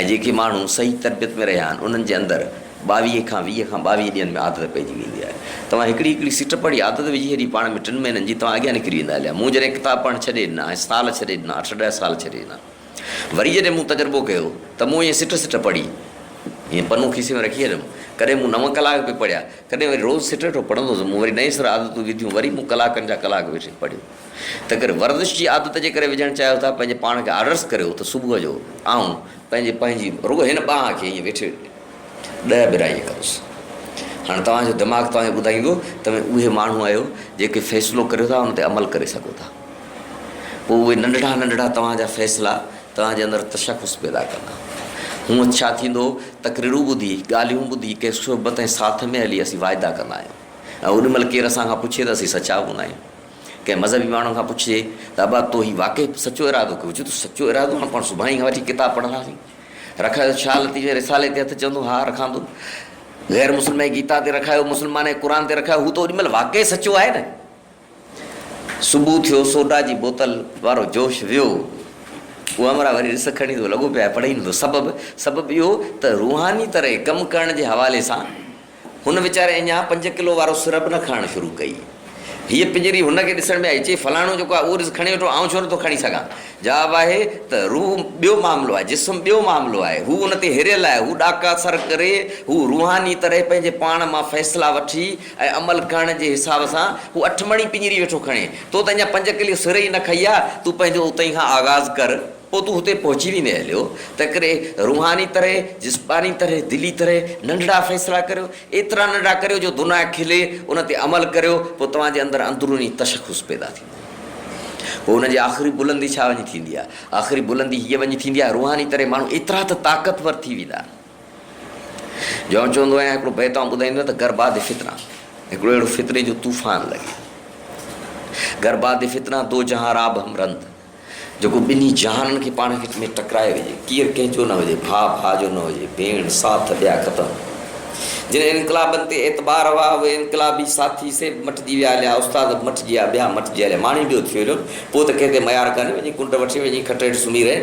۽ جيڪي ماڻهو صحيح تربيت ۾ رهيا آهن انهن جي اندر ٻاويهه کان ويهه کان ٻاويهه ڏينهن ۾ عادت پئجي ويندي آهي. توهان هڪڙي هڪڙي سٽپ واري عادت وجهي ڇڏي پاڻ ۾ ٽن مهينن جي توهان اڳيان نڪري ويندا اليا مون جڏهن ڪتاب پڙهڻ ڇڏي ڏنا ۽ سال ڇڏي ڏنا اٺ ڏهه سال ڇڏي ڏنا وري جڏهن مون تجربو ڪيو ته مون ائين سٽ سٽ پڙهي ائين پنو کيسي ۾ رکي ڇڏيم ڪڏهن مون نو ڪلاڪ به پڙهيا ڪڏهن وري روز سٽ سٽ پڙهندو هوس مون وري نئين سر عادتون وڌيون وري مون ڪلاڪن جا ڪلاڪ ويٺي پڙهيو. تنهنڪري ورزش جي عادت جي ڪري وجهڻ چاهيو ٿا پنهنجي پاڻ کي آرڊرس ڪريو ته صبح جو آئون پنهنجي پنهنجي رڳو هن ٻانهن کي ائين ويٺي ڏهه ٻرائي ڪندس هاڻي توهان جو دماغ توهان کي ٻڌائيندو توهين اهي ماڻهو آهيو جيڪي فيصلو ڪريو ٿا ان تي عمل ڪري سگهو ٿا پوء اهي ننڍڙا ننڍڙا توهان جا فيصلا توهان جي اندر تشخص پيدا ڪندا هونء ڇا ٿيندو تقريرون ٻڌي ڳالهيون ٻڌي ڪنهن صحبت ۽ ساٿ ۾ هلي اسين واعدا ڪندا آهيون ۽ اوڏي مهل ڪير اسان کان پڇي ته اسين سچا به هوندا آهيون ڪنهن مذهبي ماڻهوء کان پڇجي ته ابا تو هي واقعي سچو ارادو ڪيو؟ چوي ٿو سچو ارادو هاڻ پاڻ سڀاڻي کان وٺي ڪتاب پڙهنداسين. رکايو ته شاهه لطيف جي رسالي تي هٿ چوندو ها رکان ٿو. غير مسلمانء جي گيتا تي رکايو، مسلمانء جي قرآن تي رکايو، هو ته اوڏي مهل واقعي سچو آهي نه. صبح ٿيو، سوڊا جي بوتل وارو جوش ويو. اوامرا وري رس کڻي ٿو لڳو پيو آهي پڙهي نه ٿو. سبب؟ سبب اهو ته روحاني طرح ڪم ڪرڻ جي حوالي سان، هن ويچاري اڃا پنج ڪلو وارو سر به نه کڻڻ شروع ڪئي. هيء پڃري هن کي ڏسڻ ۾ آئي، چئي، فلاڻو جيڪو آهي، اهو ڏس کڻي ويٺو، آئون ڇو نه ٿو کڻي سگهان؟ جواب آهي ته، روح ٻيو معاملو آهي، جسم ٻيو معاملو آهي. هو ان تي هريل آهي، هو ڏاڪا سر ڪري، هو روحاني طرح پنهنجي پاڻ مان فيصلا وٺي ۽ عمل ڪرڻ جي حساب سان هو اٺ مڻي پڃري ويٺو کڻي. تو ته اڃا پنج ڪلو سر ئي نه کئي آ، تون پنهنجو اتهين کان آغاز ڪر. پوء تون هتي پهچي ويندين اليو، تنهنڪري روحاني طرح، جسماني طرح، دلي طرح ننڍڙا فيصلا ڪريو، ايترا ننڍڙا ڪريو جو دنيا کلي، ان تي عمل ڪريو، پوء توهان جي اندر اندروني تشخص پيدا ٿيندو. پوء ان جي آخري بلندي ڇا وڃي ٿيندي آهي؟ آخري بلندي هيء وڃي ٿيندي آهي، روحاني طرح ماڻهو ايترا ته طاقتور ٿي ويندا آهن، جو آئون چوندو آهيان، هڪڙو بيت آئون ٻڌائيندو آهيان ته گهر بعد فتنه، هڪڙو اهڙو فتني جو طوفان لڳي، گهر بعد فتنه، دو جهان راب هم رند. جيڪو ٻنهي جهانن کي پاڻ ۾ ٽڪرائي وجهي، ڪير ڪنهن جو نه هجي، ڀاء ڀاء جو نه هجي، ڀيڻ ساٿ ڏيا ختم. جن انقلابن تي اعتبار هئا، اهي انقلابي ساٿي سي به مٽجي ويا هليا، استاد به مٽجي ويا، ٻيا مٽجي هليا، ماڻهي ٻيو ٿي هليو، پوء ته ڪنهن تي ميار ڪانهي، وڃي ڪنڊ وٺي وڃي کٽ هيٺ سمهي رهي.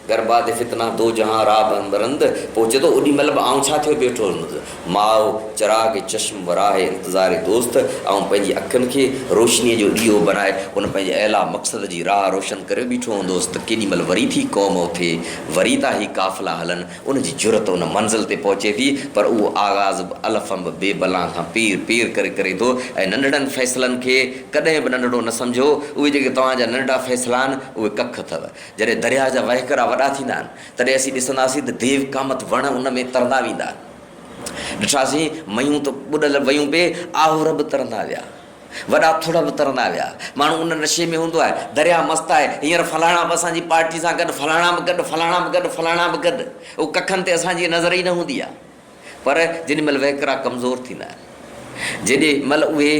گر باد فتنه دو جهان را بند رند پوء چئي ٿو اوڏي مهل به آئون ڇا ٿيو بيٺو هوندس ماء چراغ چشم و راهه انتظار دوست آئون پنهنجي اکين کي روشنيء جو ڏيئو بنائي ان پنهنجي اعليٰ مقصد جي راهه روشن ڪري بيٺو هوندس ته ڪيڏي مهل وري ٿي قوم اٿي وري ٿا هي قافلا هلن ان جي جرئت ان منزل تي پهچي ٿي پر اهو آغاز به الف انب بي بلان کان پير پير ڪري ڪري ٿو ۽ ننڍڙن فيصلن کي ڪڏهن به ننڍڙو نه سمجهو اهي جيڪي توهان جا ننڍڙا فيصلا آهن اهي ڪک اٿو جڏهن درياهه جا وهڪرا وڏا ٿيندا آهن، تڏهن اسين ڏسنداسين ته ديو ڪامت وڻ ان ۾ ترندا ويندا. ڏٺاسين ميون ته ٻڏل ويون پي، آهور به ترندا ويا. وڏا ٿڙ به ترندا ويا. ماڻهو ان نشي ۾ هوندو آهي. درياهه مست آهي. هينئر فلاڻا به اسان جي پارٽي سان گڏ، فلاڻا به گڏ، فلاڻا به گڏ، فلاڻا به گڏ. او ڪکن تي اسان جي نظر ئي نه هوندي آهي. پر جيڏي مھل وھڪرا ڪمزور ٿيندا آھن، جيڏي مھل اھي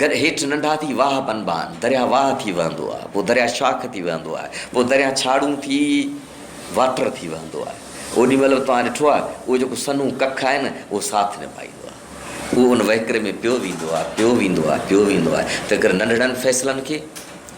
در ھيٺ ننڍا ٿي واھه بنبا آھن، درياھ واھه ٿي وھندو آھي، پوء درياھ شاخ ٿي وھندو آھي، پوء درياھ ڇاڙھون ٿي واٽر ٿي وھندو آھي، اوڏي مھل به توھان ڏٺو آھي، اھو جيڪو سنھون ڪک آھي نه، اھو ساٿ نڀائيندو آھي، اھو ان وھڪري ۾ پيو ويندو آھي، پيو ويندو آھي، پيو ويندو آھي، تنھنڪري ننڍڙن فيصلن کي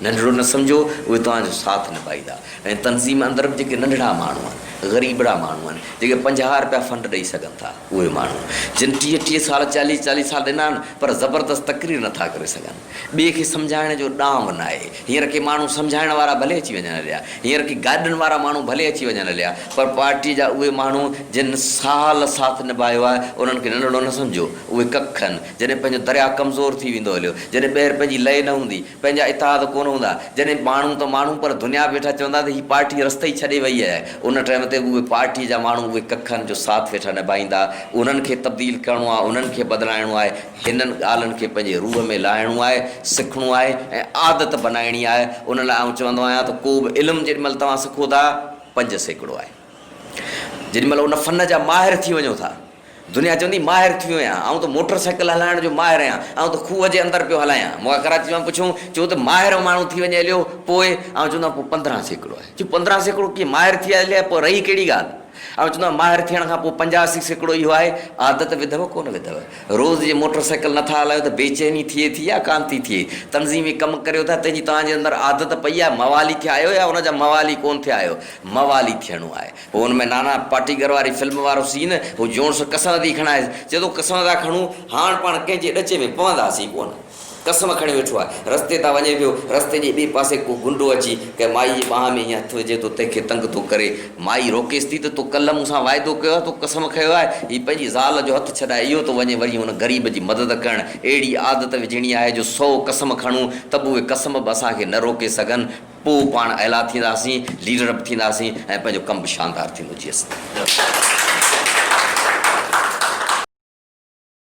ننڍڙو نه سمجهو، اهي توهان جو ساٿ نڀائيندا ۽ تنظيم اندر به جيڪي ننڍڙا ماڻهو آهن، غريبڙا ماڻهو آهن، جيڪي پنجاهه رپيا فنڊ ڏئي سگهن ٿا، اهي ماڻهو جن ٽيهه ٽيهه سال، چاليهه چاليهه سال ڏنا آهن پر زبردست تقرير نه ٿا ڪري سگهن. ٻئي کي سمجهائڻ جو ڏانء ناهي. هينئر ڪي ماڻهو سمجهائڻ وارا ڀلي اچي وڃن هليا، هينئر ڪي گاڏن وارا ماڻهو ڀلي اچي وڃن هليا پر پارٽيء جا اهي ماڻهو جن سال ساٿ نڀايو آهي، انهن کي ننڍڙو نه سمجهو، اهي ڪک آهن، جڏهن پنهنجو درياء ڪمزور ٿي ويندو هليو، جڏهن ٻيهر پنهنجي لئي نه هوندي، پنهنجا اتحاد ڪونه هوندا جڏهن ماڻهو ته ماڻهو پر دنيا به ويٺا چوندا ته هي پارٽي رستي ئي ڇڏي وئي آهي ان ٽائيم تي اهي پارٽي جا ماڻهو اهي ڪک آهن جو ساٿ ويٺا نڀائيندا انهن کي تبديل ڪرڻو آهي انهن کي بدلائڻو آهي هنن ڳالهن کي پنهنجي روح ۾ لاهڻو آهي سکڻو آهي ۽ عادت بنائڻي آهي ان لاء آئون چوندو آهيان ته ڪوبه علم جيڏي مهل توهان سکو ٿا پنج سيڪڙو آهي. جيڏي مهل ان فن جا ماهر ٿي وڃو ٿا، دنيا چوندي ماهر ٿي ويو آهيان، آئون ته موٽر سائيڪل هلائڻ جو ماهر آهيان، آئون ته کوهه جي اندر پيو هلايان، مون کان ڪراچي مان پڇون، چون ته ماهر ماڻهو ٿي وڃي هليو پوء؟ آئون چوندو آهيان پوء پندرهن سيڪڙو آهي، چون پندرهن سيڪڙو ڪيئن ماهر ٿي هليا آهي، پوء رهي ڪهڙي ڳالهه؟ آئون چوندو آهيان ماهر ٿيڻ کان پوء پنجاسي سيڪڙو اهو آهي، عادت وڌئو ڪونه وڌئو، روز جي موٽر سائيڪل نه ٿا هلايو ته بيچيني ٿئي ٿي يا ڪانه ٿي ٿئي، تنظيمي ڪم ڪريو ٿا تنهن جي توهان جي اندر عادت پئي آهي، موالي ٿيا آهيو يا ان جا موالي ڪونه ٿيا آهيو، موالي ٿيڻو آهي. هو ان ۾ نانا پاٽيڪر واري فلم وارو سين هو جونس قسم ٿي کڻائيس چئي ٿو قسم ٿا کڻون هاڻ پاڻ ڪنهن جي ڏچي ۾ پونداسين ڪونه قسم کڻي ويٺو آهي رستي تان وڃي پيو رستي جي ٻئي پاسي ڪو گنڊو اچي ڪنهن مائي جي ٻانهن ۾ ائين هٿ وجهي ٿو تنهن کي تنگ ٿو ڪري مائي روڪيس ٿي ته تو ڪلهه مون سان واعدو ڪيو آهي تو قسم کيو آهي هي پنهنجي زال جو هٿ ڇڏائي اهو ٿو وڃي وري ان غريب جي مدد ڪرڻ اهڙي عادت وجهڻي آهي جو سئو قسم کڻون ته به اهي قسم به اسان کي نه روڪي سگهن پوء پاڻ اعليٰ ٿينداسين، ليڊر به ٿينداسين ۽ پنهنجو ڪم به شاندار ٿيندو. جي اسان.